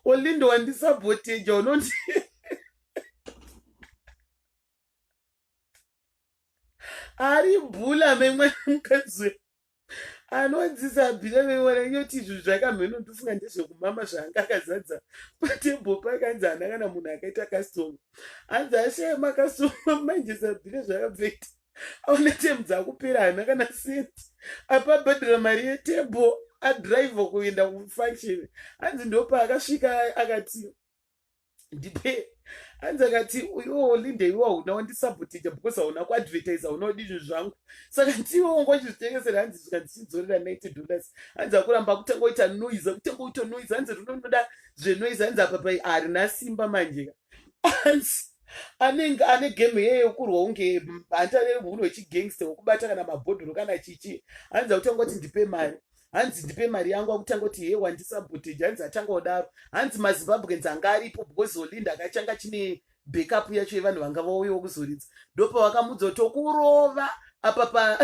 olinda wandisaboteja unoti ari bhula memwana mukadzi anodzisa bhira memwana nyoti izvi zvakamheno ndofunga ndezvekumama zvaanga akazadza patebho pake anzi hana kana munhu akaita kastoma anzi ashaya makastoma manje sabhira zvakabveita aona temu dzakupera hana kana senti apa abhadhara mari yetable adrive kuenda kufunction hanzi ndopaakasvika akati ndipe hanzi akati uyoo linde iwe hauna wandisabotija because hauna kuadvertisa hauna kudi zvinhu zvangu saka ndiwe wanga uchizvitengesera hanzi zvika ndichidzorera ninety dollars hanzi akuramba kutanga kuita noise kutanga kuita noise hanzi rinonoda zvenoise hanzi apa pai harina simba manjeka hanzi anenge ane game yeye yokurwa unge handitarere munhu wechigangster wokubata kana mabhodhoro kana chichi hanzi akutanga kuti ndipe mari hanzi ndipe mari yangu akutanga kuti hee wandisabotage hanzi atanga kudaro hanzi mazimbabweans anga aripo because olinda akachanga chine backup yacho yevanhu vanga vauyawo kuzoridza ndopa vakamudza kuti tokurova apa pa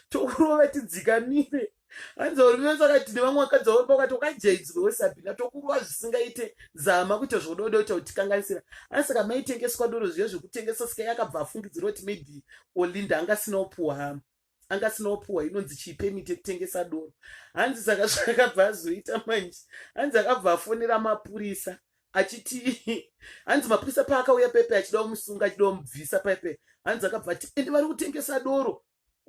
tokurova tidzikamire hanzi uri vese vakati nevamwe vakadzi vauri pakati wakajaidzirwa wesabhina tokurwa zvisingaite zama kuita zvododa kuita kutikanganisira asi saka maitengeswa doro zviya zvekutengesa sika yakabva afungidzira kuti maybe olinda anga asina upuwa hama anga asina upuwa inonzi chii pemiti yekutengesa doro hanzi saka zvakabva azoita manje hanzi akabva afonera mapurisa achiti hanzi mapurisa paakauya pepe achida kumusunga achida kumubvisa pepe hanzi akabva ati ende vari kutengesa doro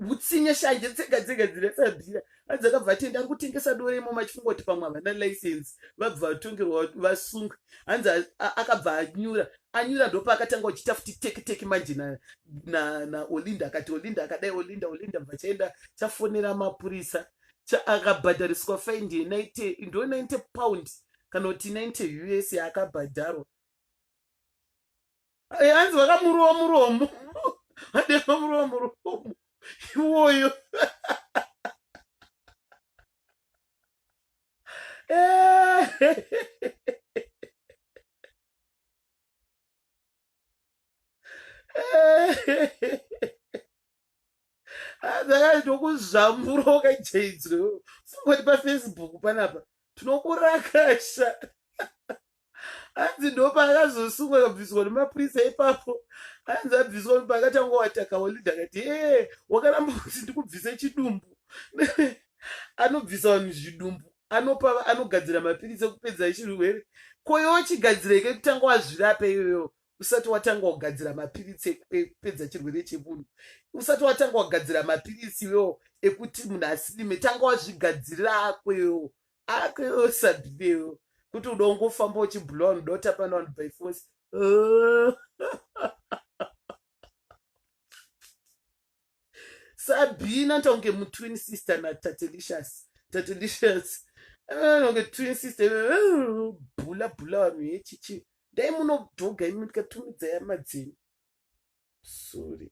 hutsinye shanje tsega dzega dzinesabhira anzi akabva ati enda kutengesa dore imomo achifunga kuti pamwe havana license vabva vatongerwa vasungwe hanzi akabva anyura anyura ndopa akatanga kuchita futi teki teki manje naolinda akati olinda akadai olinda olinda bva chaenda chafonera mapurisa akabhadhariswa find ndo 90 pound kana kuti 90 us yaakabhadharwa hanzi vakamurowa muromo vadema murowa muromo iwoyo hadzakaitwa kuzamburoka jaidzwe fungoti pafacebook panapa tinokurakasha hanzi ndopaakazosungwa kabviswa nemapurisa ipapo hanzi abviswa paakatanga wataka holid akati ee wakaramba kuti ndikubvise chidumbu anobvisa vanhu zvidumbu anopa anogadzira mapiritsi ekupedza chirwere koyochigadzireke kutanga wazvirape iyoyo usati watanga kugadzira mapiritsi ekupedza chirwere chemunhu usati watanga kugadzira mapiritsi iwewo ekuti munhu asinime tanga wazvigadzirira ako iwewo ako iwewo sabinewo kuti uda ungofamba uchibhulowa unoda kutapana vanhu by force sabina anoita kunge mutwin sister natatelicious tatelicious anoita kunge twin sister bhula bhula vanhu yechichi dai munodhoga imi ndikatumidza yama dzenyu sorry